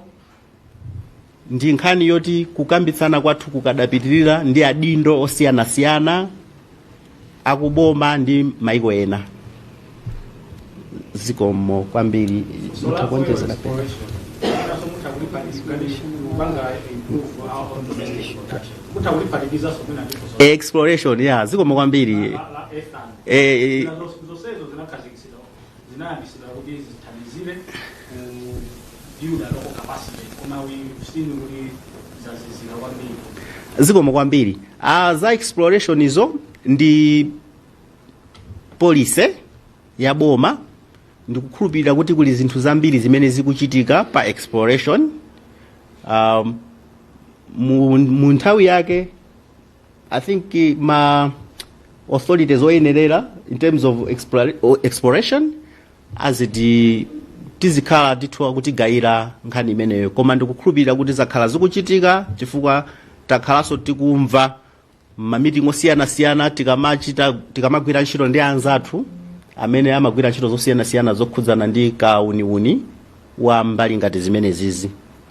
ndi nkhani yoti kukambitsana kwathu kukadapitirira ndi adindo osiyanasiyana akuboma ndi maiko ena zikomo kwambiri mutha kuonjezera pena exploration ya zikomo kwambiri eh, eh, zinayambitsidwa kuti zithandizire ku build a local capacity koma we've seen kuti zazizira kwambiri zikomo kwambiri ah, za exploration izo ndi policy ya boma ndikukhulupirira kuti kuli zinthu zambiri zimene zikuchitika pa exploration um, mu, mu nthawi yake I think eh, ma authorities oyenerera in terms of explora- o- exploration aziti azikhala ndithu akutigayira nkhani imeneyo koma ndikukhulupirira kuti zakhala zikuchitika chifukwa takhalanso tikumva mamitingi osiyanasiyana tikamachita tikamagwira ntchito ndi anzathu amene amagwira ntchito zosiyanasiyana zokhudzana ndi kauniuni wa mbali ngati zimenezizi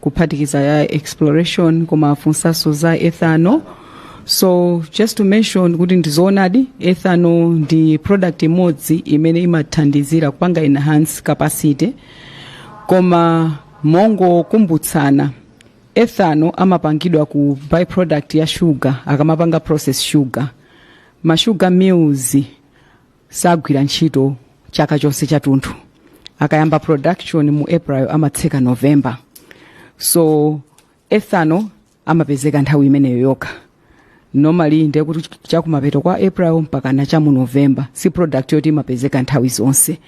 kuphatikiza ya exploration koma afunsanso za ethanol so just to mention kuti ndizoonadi ethanol ndi product imodzi imene imathandizira kupanga enhance capacity koma mongokumbutsana, ethanol amapangidwa ku byproduct ya sugar akamapanga process sugar ma sugar mills sagwira ntchito chaka chonse chatunthu akayamba production mu april amatseka november so ethanol amapezeka nthawi imeneyo yokha normally ndi kuti chakumapeto kwa april mpakana cha mu november si product yoti imapezeka nthawi zonse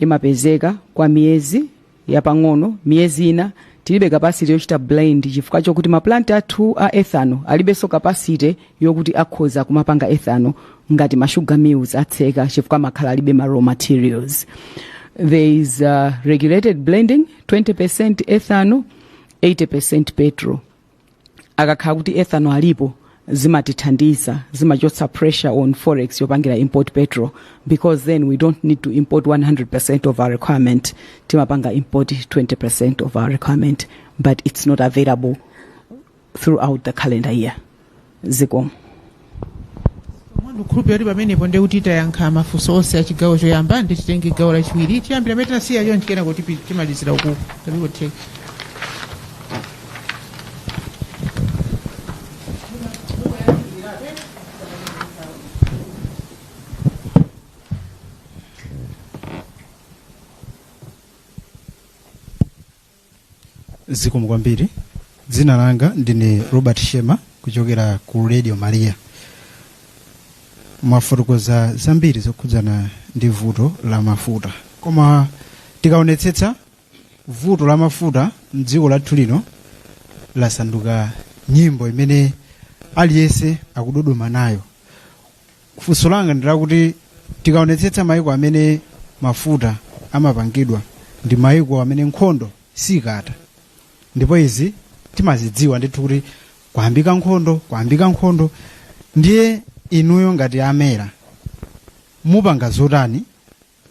imapezeka kwa miyezi yapang'ono miyezi ina tilibe capacity yochita blend chifukwa chokuti ma plant athu a ethanol alibenso capacity yokuti akhoza kumapanga ethanol ngati ma sugar mills atseka chifukwa amakhala alibe ma raw materials there is a regulated blending 20 percent ethanol 80 percent petrol akakhala kuti ethanol alipo zimatithandiza zimachotsa pressure on forex yopangira import petrol because then we don't need to import 100% of our requirement timapanga import 20% of our requirement but it's not available throughout the calendar year zikomo ndikhulupira kuti pamenepo ndiye kuti tayankha mafunso onse a chigawo choyamba ndiye titenge gawo lachiwiri tiyambira amene tinasiya chonchi kenako timalizira uku tapikotheka zikomo kwambiri dzina langa ndine robert shema kuchokera ku radio maria mwafotokoza zambiri zokhudzana ndi vuto la mafuta koma tikaonetsetsa vuto la mafuta mdziko lathu lino lasanduka nyimbo imene aliyense akudodoma nayo funso langa ndi lakuti tikaonetsetsa maiko amene mafuta amapangidwa ndi maiko amene nkhondo siikatha ndipo izi timazidziwa ndithu kuti kwayambika nkhondo kwayambika nkhondo ndiye inuyo ngati a mera mupanga zotani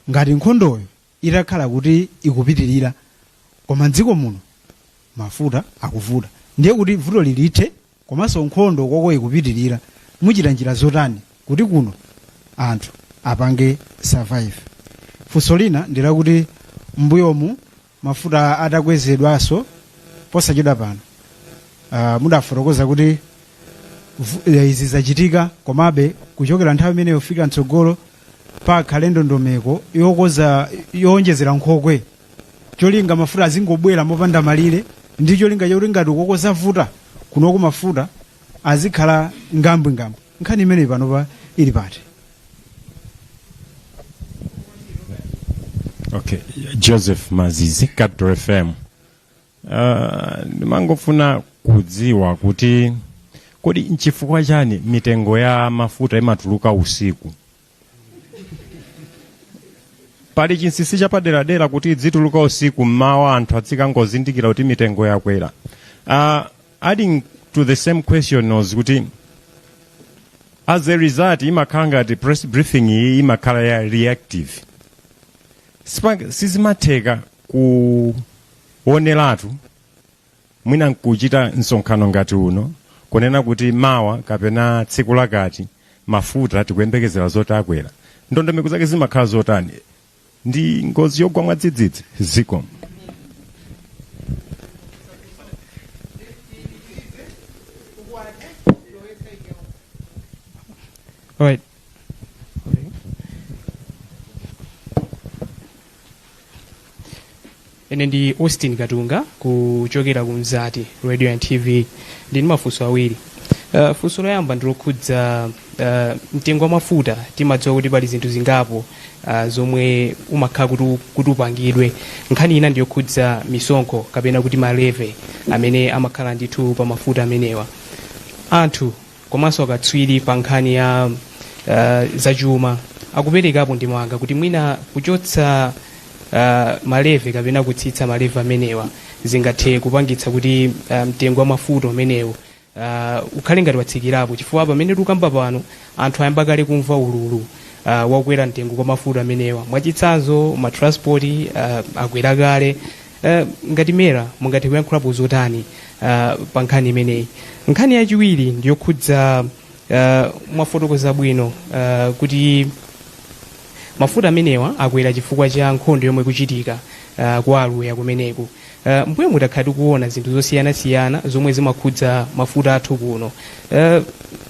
ngati nkhondoyo itakhala kuti ikupitirira koma mdziko muno mafuta akuvuta ndiye kuti vuto silithe komanso nkhondo koko ikupitirira muchita njira zotani kuti kuno anthu apange survive funso lina ndi lakuti mbuyomu mafuta atakwezedwanso posachedwa pano uh, mudafotokoza kuti vu- eh, izi zachitika komabe kuchokera nthawi imeneyo kufika mtsogolo pakhale ndondomeko yokoza yowonjezera nkhokwe cholinga mafuta azingobwera mopanda malire ndi cholinga chakuti ngati uko koza vuta kunoko mafuta azikhala ngambwingambwe nkhani imeneyi panopa ili pati Okay. Joseph Mazizi, Capital FM. Ah, ndimangofuna kudziwa kuti kodi nchifukwa chani mitengo ya mafuta imatuluka usiku pali chinsinsi chapaderadera kuti idzituluka usiku mmawa anthu adzikangozindikira kuti mitengo yakwera uh, adding to the same question was kuti as a result imakhala ngati press briefing iyi imakhala ya reactive Sipa- sizimatheka ku oneratu mwina nkuchita msonkhano ngati uno kunena kuti mawa kapena tsiku lakuti mafuta tikuyembekezera zoti akwera ndondomeko zake zimakhala zotani ndi ngozi yogwa mwadzidzidzi zikomo All right. ine ndi austin katunga kuchokera ku mzati radio and tv ndi ndi mafunso awiri uh, funso loyamba ndilokhudza uh, mtengo wa mafuta timadziwa kuti pali zinthu zingapo uh, zomwe umakhala kuti u- kuti upangidwe nkhani ina ndiyokhudza misonkho kapena kuti malevy amene amakhala ndithu pa mafuta amenewa anthu komanso akatswiri pa nkhani ya uh, zachuma akuperekapo ndemanga kuti mwina kuchotsa uh, malevy kapena kutsitsa malevy amenewa zingathe kupangitsa kuti uh, mtengo wa mafuta umenewu uh, ukhale ngati watsikirapo chifukwa pamene tikukamba pano anthu ayamba kale kumva ululu uh, wakwera mtengo kwa mafuta amenewa mwachitsanzo matransport uh, akwera kale Eh, ngati mera mungathe kuyankhulapo zotani ah, pa nkhani imeneyi nkhani yachiwiri ndiyokhudza ah, mwafotokoza bwino ah, kuti mafuta amenewa akwera chifukwa cha nkhondo yomwe ikuchitika ah, ku aluya kumeneku Ah, mbuyomu takhala tikuona zinthu zosiyanasiyana zomwe zimakhudza mafuta athu kuno Ah,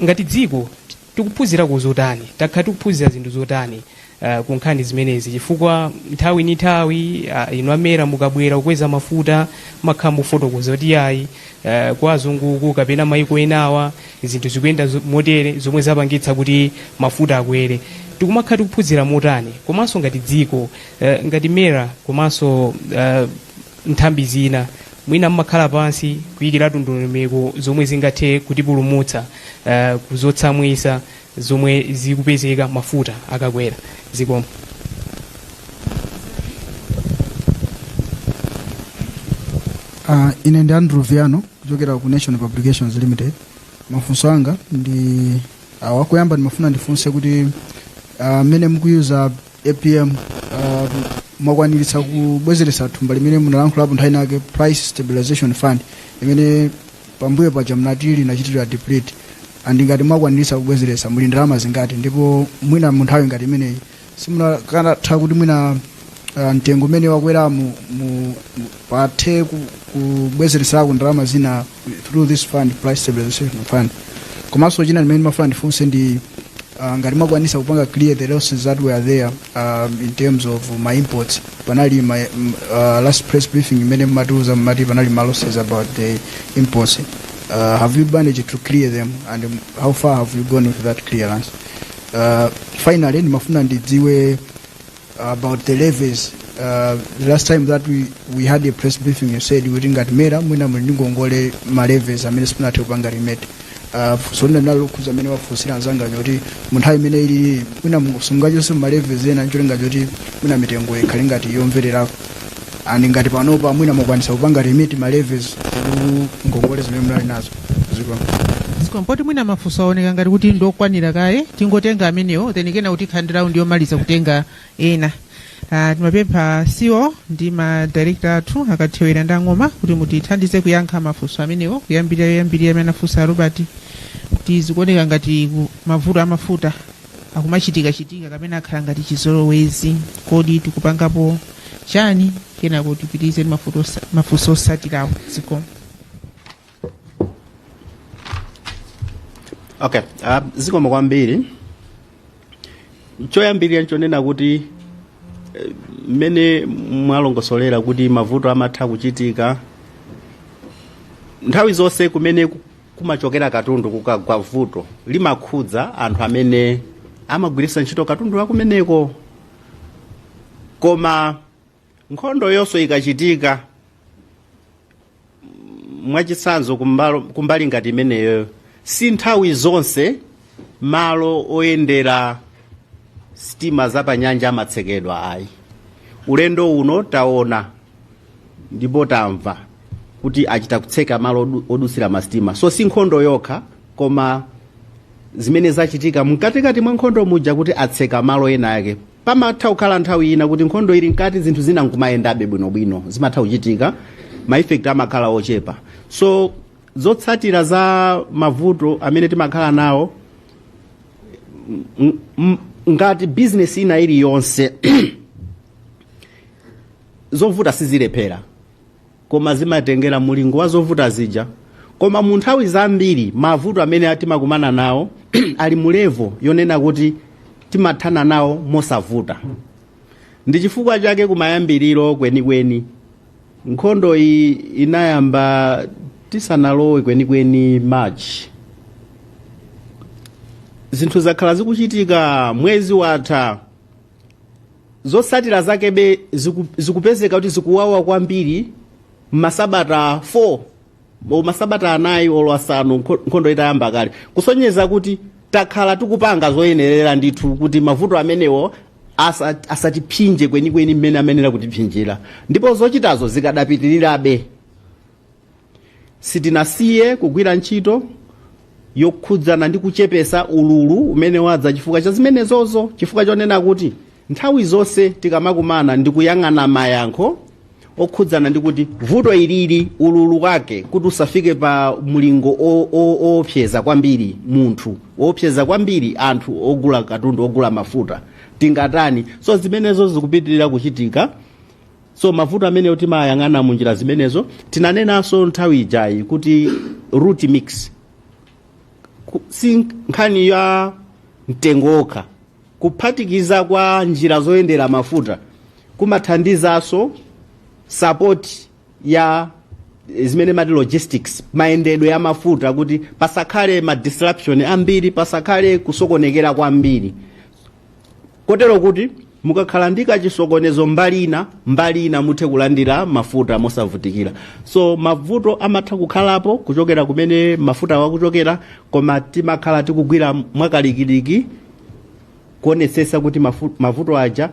ngati dziko Tikuphunzirako zotani? Takhala tikuphunzira zinthu zotani ah, ku nkhani zimenezi? Chifukwa nthawi ni nthawi ah, inu amera mukabwera kukweza mafuta mmakhala mukufotokoza kuti ayi ah, kwa azunguku kapena maiko enawa zinthu zikuyenda zo- motere zomwe zapangitsa kuti mafuta akwere. Tikumakhala tikuphunzira motani komanso ngati dziko eh, ngati mera komanso ah, nthambi zina mwina mmakhala pansi kuyikiratu ndondomeko zomwe zingathe kutipulumutsa eh, kuzotsamwisa zomwe zikupezeka mafuta akakwera zikomo Uh, ine ndi andrew viano kuchokera ku nation publications limited mafunso anga ndi awa koyamba ndimafuna ndifunse kuti ah, mmene uh, mukuyuza apm uh, mwakwanitsa kubwezeretsa thumba limene munalankhulapo nthawi inayake price stabilization fund imene pambuyo paja mnati linachitira deplete and ngati mwakwanitsa kubwezeretsa muli ndalama zingati ndipo mwina mu nthawi ngati imeneyi simukanatha kuti mwina uh, mtengo umene wakwerawu mu, mu, pathe ku- kubwezeretserako ndalama zina through this fund price stabilization fund komanso china chimene ndimafuna ndifunse ndi uh, ngati mwakwanisa kupanga clear the losses that were there um, in terms of ma imports panali my, m- uh, last press briefing imene munatiuza munati panali ma losses about the imports uh, have you managed to clear them and um, how far have you gone with that clearance uh, finally ndimafuna ndidziwe about the levies uh, the last time that we, we had a press briefing you said kuti ngati mera mwina muli ndi ngongole ma levies amene simunathe kupanga remit uh, funso lina linali lokhuza amene afunsa anzanga kuti munthawi imene ino mwina simungachotse ma levies ena ncholinga choti mwina mitengo ikhale ngati yomvererako and ngati panopa mwina mwakwanisa kupanga remit ma levies ku ngongole zimene munali nazo zikomo zikomo poti mwina mafunso aoneka ngati kuti ndi okwanira kaye tingotenga amenewo then kenako tikhala ndi round yomaliza kutenga ena Ah, timapempha CEO ndi madirekta athu a Kathewera ndi a Ng'oma kuti mutithandize kuyankha mafunso amenewo kuyambira loyambirira amene anafunsa robert kuti zikuoneka ngati ku- mavuto amafuta akumachitikachitika kapena akhala ngati chizolowezi kodi tikupangapo chani kenako tipitirize ndi mafuto osa- mafunso osatirawo zikomo okay uh, zikomo kwambiri choyambirira nchonena kuti eh, mmene mwalongosolera kuti mavuto amatha kuchitika nthawi zonse kumene ku- kumachokera katundu kukagwa vuto limakhudza anthu amene amagwiritsa ntchito katundu wakumeneko koma nkhondo yonse ikachitika mwachitsanzo kumbalo- kumbali ngati imeneyo si nthawi zonse malo oyendera sitima zapanyanja amatsekedwa ayi ulendo uno taona ndipo tamva kuti achita kutseka malo odu- odutsira masitima so si nkhondo yokha koma zimene zachitika mkatikati mwa nkhondo muja kuti atseka malo ena ake pamatha kukhala nthawi ina kuti nkhondo ili mkati zinthu zina nkumayendabe bwinobwino zimatha kuchitika ma effect amakhala ochepa so zotsatira za mavuto amene timakhala nawo m- m- ngati business ina iliyonse Zovuta sizilephera koma zimatengera mulingo wa zovuta zija koma munthawi zambiri mavuto amene timakumana nawo ali mu level yonena kuti timathana nawo mosavuta ndi chifukwa chake kumayambiriro kwenikweni nkhondo iyi inayamba tisanalowe kwenikweni march zinthu zakhala zikuchitika mwezi watha zotsatira zakebe ziku, zikupezeka kuti zikuwawa kwambiri masabata 4 o masabata anayi olo asanu nkho- nkhondo itayamba kale kusonyeza kuti takhala tikupanga zoyenerera ndithu kuti mavuto amenewo asa- asatiphinje kwenikweni mmene amayenera kutiphinjira ndipo zochitazo zikadapitirirabe sitinasiye kugwira ntchito yokhudzana ndi kuchepesa ululu umene wadza chifukwa cha zimenezozo chifukwa chonena kuti nthawi zonse tikamakumana ndi kuyang'ana mayankho okhudzana ndi kuti vuto ilili ululu wake kuti usafike pa mlingo o- o- oopseza kwambiri munthu oopseza kwambiri anthu ogula katundu ogula mafuta tingatani so zimenezo zikupitirira kuchitika so mavuto amenewo timayang'ana mu njira zimenezo tinanenanso nthawi ijayi kuti route mix Ku- si nkhani ya mtengo wokha kuphatikiza kwa njira zoyendera mafuta kumathandizanso support ya eh, zimene timati logistics mayendedwe ya mafuta kuti pasakhale ma disruption ambiri pasakhale kusokonekera kwambiri kotero kuti mukakhala ndi kachisokonezo mbali ina mbali ina muthe kulandira mafuta mosavutikira so mavuto amatha kukhalapo kuchokera kumene mafutawo akuchokera koma timakhala tikugwira mwakalikiliki kuonetsetsa kuti mafu- mavuto aja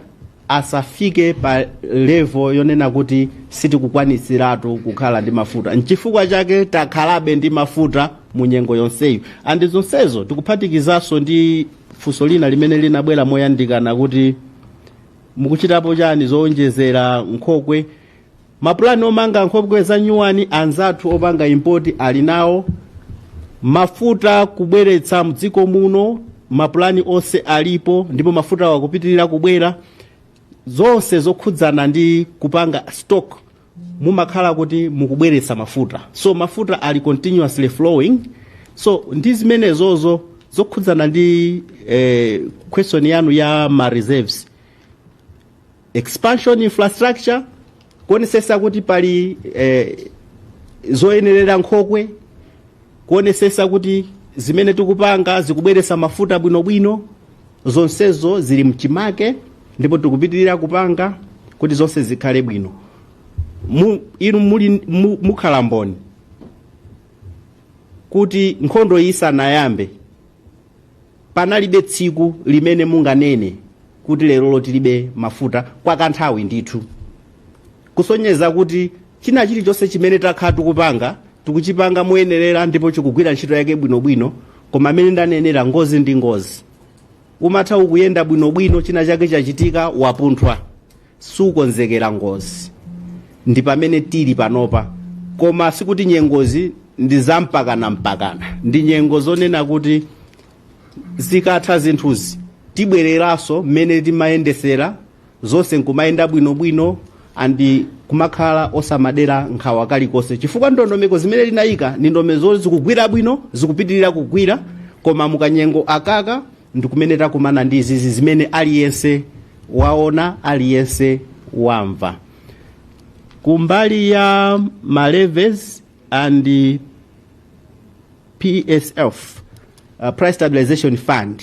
asafike pa levo yonena kuti sitikukwanitsiratu kukhala ndi mafuta nchifukwa chake takhalabe ndi mafuta mu nyengo yonseyi andi zonsezo tikuphatikizanso ndi Funso lina limene linabwera moyandikana kuti mukuchitapo chani zowonjezera nkhokwe mapulani omanga nkhokwe za nyuwani anzathu opanga impoti ali nawo mafuta kubweretsa mdziko muno mapulani onse alipo ndipo mafutawo akupitirira kubwera zonse zokhudzana ndi kupanga stock mumakhala kuti mukubweretsa mafuta so mafuta ali continuously flowing so ndi zimenezozo zokhudzana ndi eh, question yanu ya ma reserves expansion infrastructure kuonesesa kuti pali eh, zoyenerera nkhokwe kuonesesa kuti zimene tikupanga zikubweretsa mafuta bwinobwino zonsezo zili mchimake ndipo tikupitirira kupanga kuti zonse zikhale bwino, inu muli, mukhala mboni kuti nkhondo iyi isanayambe panalibe tsiku limene munganene kuti lerolo tilibe mafuta kwa kanthawi ndithu kusonyeza kuti china chilichonse chimene takhala tikupanga tikuchipanga moyenerera ndipo chikugwira ntchito yake bwinobwino koma mmene ndanenera ngozi ndi ngozi umatha ukuyenda bwinobwino china chake chachitika wapunthwa sukonzekera ngozi ndi pamene tili panopa koma sikuti nyengozi ndi zampakana mpakana ndi nyengo zonena kuti zikatha zinthuzi tibwereranso mmene timayendesera zonse nkumayenda bwinobwino and kumakhala osamadera nkhawa kalikonse chifukwa ndondomeko zimene linayika ndi ndondomeko zikugwira bwino zikupitirira kugwira koma mukanyengo akaka ndikumene takumana ndi zizi zimene aliyense waona aliyense wamva kumbali ya ma levies and psf uh, price stabilization fund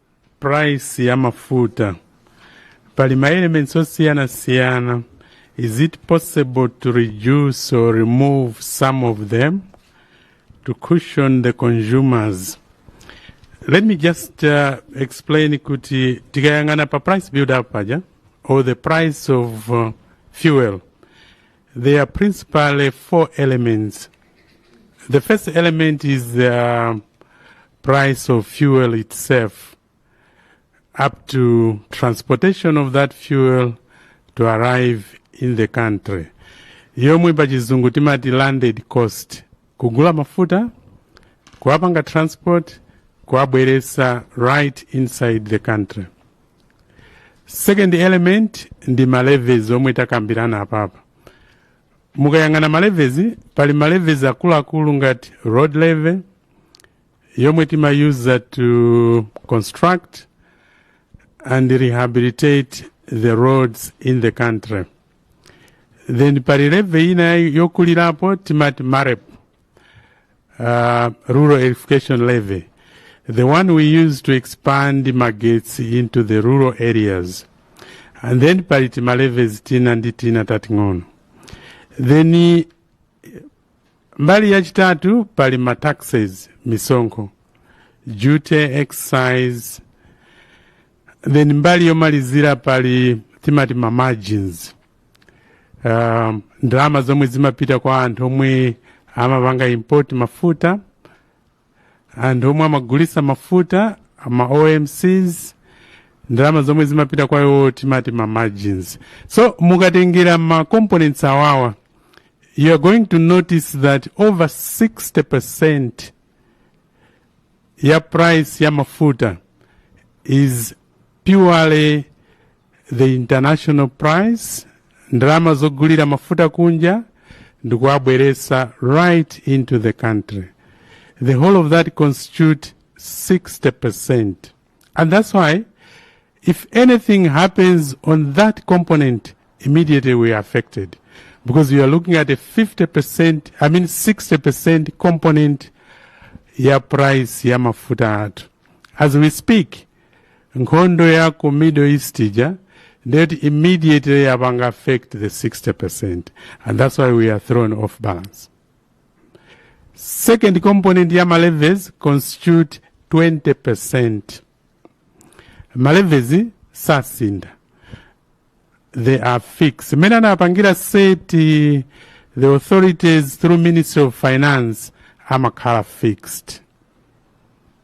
price ya mafuta pali ma elements osiyanasiyana is it possible to reduce or remove some of them to cushion the consumers let me just uh, explain kuti tikayang'ana pa price build up paja or the price of uh, fuel There are principally four elements. The first element is the uh, price of fuel itself, up to transportation of that fuel to arrive in the country. yomwe pa chizungu timati landed cost kugula mafuta kuwapanga transport kuwabweresa right inside the country second element ndi ma levies omwe takambirana apapa mukayang'ana ma levies pali ma levies akuluakulu ngati road levy yomwe timayusa to construct and rehabilitate the roads in the country then pali levy ina yokulirapo timati marep uh, rural electrification levy, the one we use to expand magetsi into the rural areas. And then pali timalevies tina ndi tina tating'ono. Then eh, mbali yachitatu pali ma taxes misonkho duty excise then mbali yomalizira pali timati ma margins um, ndalama zomwe zimapita kwa anthu omwe amapanga import mafuta anthu omwe amagulisa mafuta ma omcs ndalama zomwe zimapita kwa iwo timati ma margins so mukatengera ma components awawa you are going to notice that over 60 percent ya price ya mafuta is purely the international price ndalama zogulira mafuta kunja ndikuwabweresa right into the country the whole of that constitute 60% and that's why if anything happens on that component immediately we are affected because you are looking at a 50% i mean 60% component ya price ya mafuta athu as we speak nkhondo ya ku middle east ija ndeti immediately yapanga affect the 60% and that's why we are thrown off balance second component ya malevies constitute 20% malevies sasinda they are fixed mmene anapangira seti the authorities through ministry of finance amakhala fixed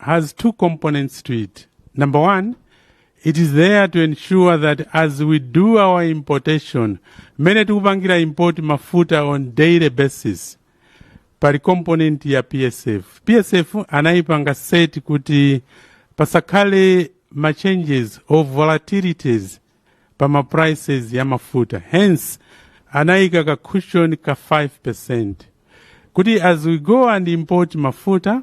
has two components to it. Number one, it is there to ensure that as we do our importation, mmene tikupangira import mafuta on daily basis, pali component ya PSF. PSF anayipanga set kuti pasakhale ma changes or volatilities pa ma prices ya mafuta. Hence, anayika ka cushion ka 5% kuti as we go and import mafuta,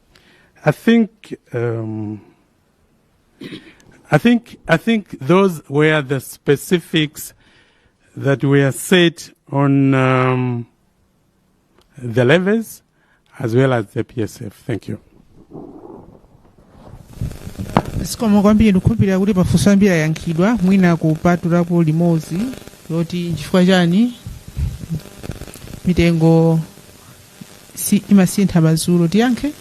I think um, I think I think those were the specifics that were set on um, the levels as well as the PSF. Thank you. zikomo kwambiri ndikukhulupirira kuti mafunso ambiri ayankhidwa mwina kupatulapo limodzi loti nchifukwa chani mitengo si imasintha madzulo tiyankhe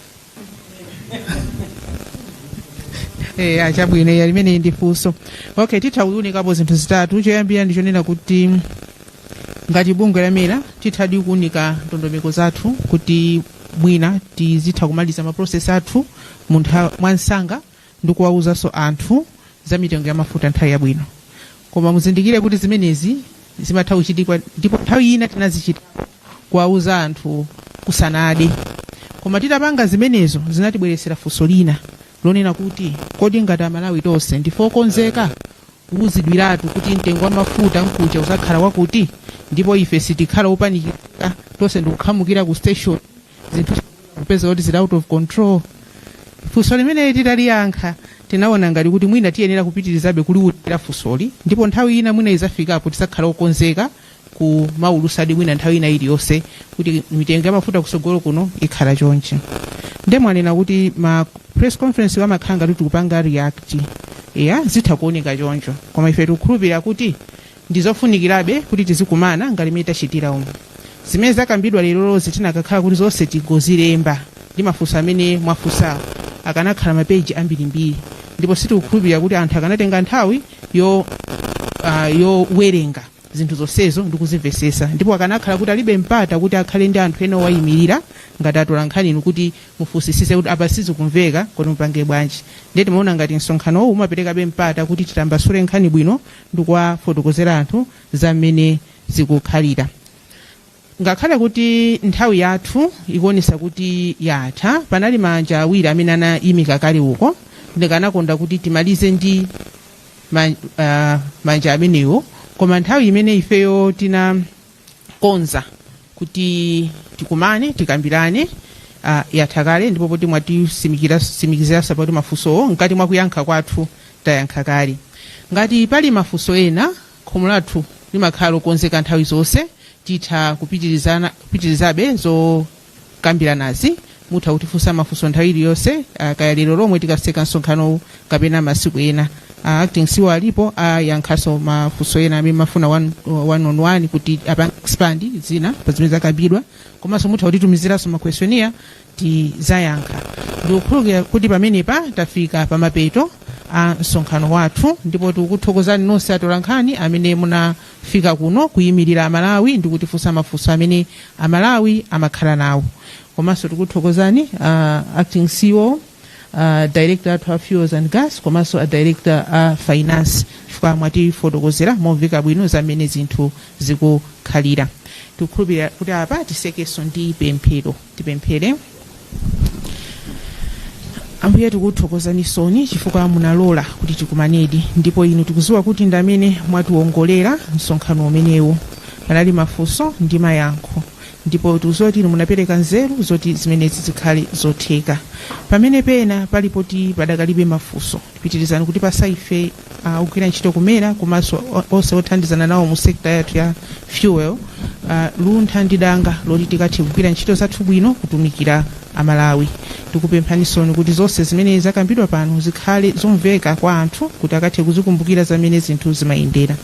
Eh, ah, chabwino ya limene ndi funso okay titha kuunikapo zinthu zitatu choyambira ndi chonena kuti ngati bungwe la mera tithadi kuunika ndondomeko zathu kuti mwina tizitha kumaliza maprocess athu muntha mwamsanga ndikuwauzanso anthu za mitengo ya mafuta nthawi yabwino koma muzindikire kuti zimenezi zimatha kuchitika ndipo nthawi ina tinazichita kuwauza anthu kusanade koma titapanga zimenezo zinatibweretsera funso lina lonena kuti kodi ngati amalawi tonse ndife okonzeka kuuzidwiratu kuti mtengo wa mafuta mkucha uzakhala wakuti ndipo ife sitikhala opanikika tonse ndikukhamukira ku station zinthu kupeza kuti zili out of control funso limeneli titaliyankha tinaona ngati kuti mwina tiyenera kupitirizabe kuliwulira funsoli ndipo nthawi ina mwina izafikapo tizakhala okonzeka kumaulusadi mwina nthawi ina iliyonse kuti mitengo ya mafuta kusogolo kuno ikhala chonchi nde mwanena kuti ma press conference amakhala ngati tikupanga react ya zitha kuoneka choncho koma ife tikukhulupirira kuti Ndi zofunikirabe kuti tizikumana ngati mmene tachitira umu. Zimene zakambidwa lerozi tikanakhala kuti zonse tingozilemba ndi mafunso amene mwafunsawo, akanakhala mapeji ambirimbiri ndipo sitikukhulupirira kuti anthu akanatenga nthawi yo ah, yowerenga zinthu zonsezo ndi kuzimvetsetsa ndipo akanakhala kuti alibe mpata kuti akhale ndi anthu ena owayimirira ngati atolankhani inu kuti mufunsisise kuti apa sizikumveka kodi mupanga bwanji ndiye timaona ngati msonkhanowu umaperekabe mpata kuti titambasule nkhani bwino ndikuwafotokozera anthu za mmene zikukhalira ngakhale kuti nthawi yathu ikuonesa kuti yatha panali manja awiri amene anaimika kale uko ndikanakonda kuti timalize ndi ma, uh, manja amenewo koma nthawi imene ifeyo tina konza kuti tikumane tikambirane uh, yatha kale ndipo poti mwatisimikizira zapoti mafunsowo mkati mwa kuyankha kwathu tayankha kale ngati pali mafunso ena khomo lathu limakhala lokonzeka nthawi zonse titha kupitirizana- kupitirizabe zo kukambiranazi mutha kutifunsa mafunso nthawi iliyonse ah, kaya lero lomwe tikaseka msonkhanowu kapena masiku ena Ah, acting ceo alipo ayankhaso mafunso ena amene mukufuna one, one on one kuti apa expand zina pa zimene zakambidwa komanso mutha kutitumiziranso makwestionnaire tizayankha ndikukhulupirira kuti pamenepa tafika pamapeto a msonkhano wathu ndipo tikukuthokozani nonse atolankhani amene muna fika kuno kuyimilira amalawi ndi kutifunsa mafunso amene amalawi amakhala nawo komanso tikuthokozani uh, acting ceo uh, director athu a fuels and gas komanso a director a finance chifukwa mwatifotokozera momveka bwino zamene zinthu zikukhalira tikukhulupirira kuti apa tisekenso ndi pemphero tipemphere ambuye tikuthokozanisoni chifukwa munalola kuti tikumanedi ndipo inu tikuziwa kuti ndi amene mwatiwongolera msonkhano umenewu panali mafunso ndi mayankho ndipo tikuziwa kuti inu munapereka nzeru zoti zimenezi zikhale zotheka pamene pena pali poti padakalibe mafunso pitirizani kutipasa ife uh, ogwira ntchito ku mera komanso o- onse othandizana nawo mu sekta yathu ya fuel uh, luntha ndi danga loti tikathe kugwira ntchito zathu bwino kutumikira amalawi tikupemphanisoni kuti zonse zimene zakambidwa pano zikhale zomveka kwa anthu kuti akathe kuzikumbukira zamene zinthu zimayendera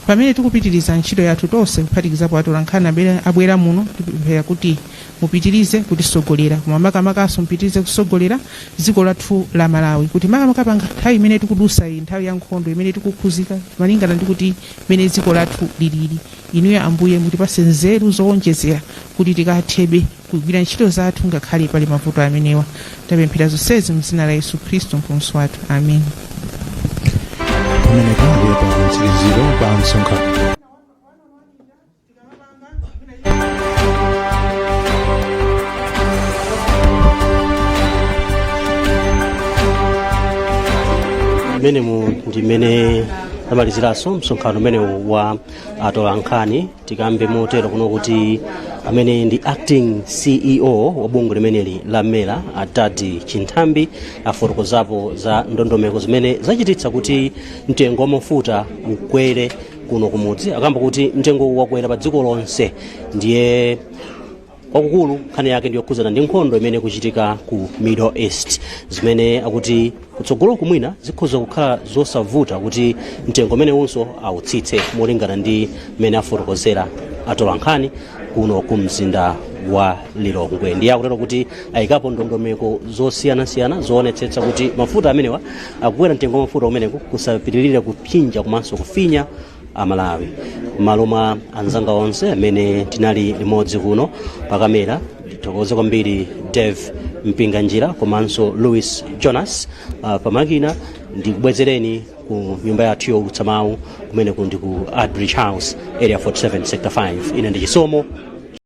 pamene tikupitiriza ntchito yathu tonse kuphatikizapo atolankhani abwera- abwera muno tikupemphera kuti mupitilize kutisogolera koma makamakaso mupitilize kusogolera ziko lathu la malawi kuti makamaka pa nthawi imene tikudusa iyi nthawi ya nkhondo imene tikukhuzika malingana ndi kuti mmene ziko lathu lilili inuyo ambuye mutipase nzeru zowonjezera kuti tikathebe kugwira ntchito zathu ngakhale pali mavuto amenewa tapemphera zonsezi mzina la yesu khristu mpulumutsi wathu amen pamene pambuyo pa kutsiriziro pa msonkhano mmenemu ndi mmene zamaliziranso msonkhano umenewu wa atolankhani tikambe motero kuno kuti amene ndi acting ceo wa bungwe limeneli la mera a dad chinthambi afotokozapo za ndondomeko zimene zachititsa kuti mtengo wa mafuta ukwere kuno kumudzi akamba kuti mtengo wakwera pa dziko lonse ndiye kwakukulu nkhani yake ndiyokhudzana ndi nkhondo imene ikuchitika ku middle east zimene akuti kutsogoloku mwina zikhoza kukhala zosavuta kuti mtengo umenewunso awutsitse molingana ndi mmene afotokozera atolankhani kuno ku mzinda wa lilongwe ndiye akutero kuti ayikapo ndondomeko zosiyanasiyana zoonetsetsa kuti mafuta ameneŵa kukwera mtengo wa mafuta umeneku kusapitirire kupsinja komanso kufinya amalawi m'malo mwa anzanga onse amene tinali limodzi kuno pakamera tithokoze kwambiri dave mpinganjira komanso louis jonas uh, pamakina ndikubwezereni ku nyumba yathu youlutsa mawu kumene kuli ndi ku artbridge house area 47 sector 5 ine ndi chisomo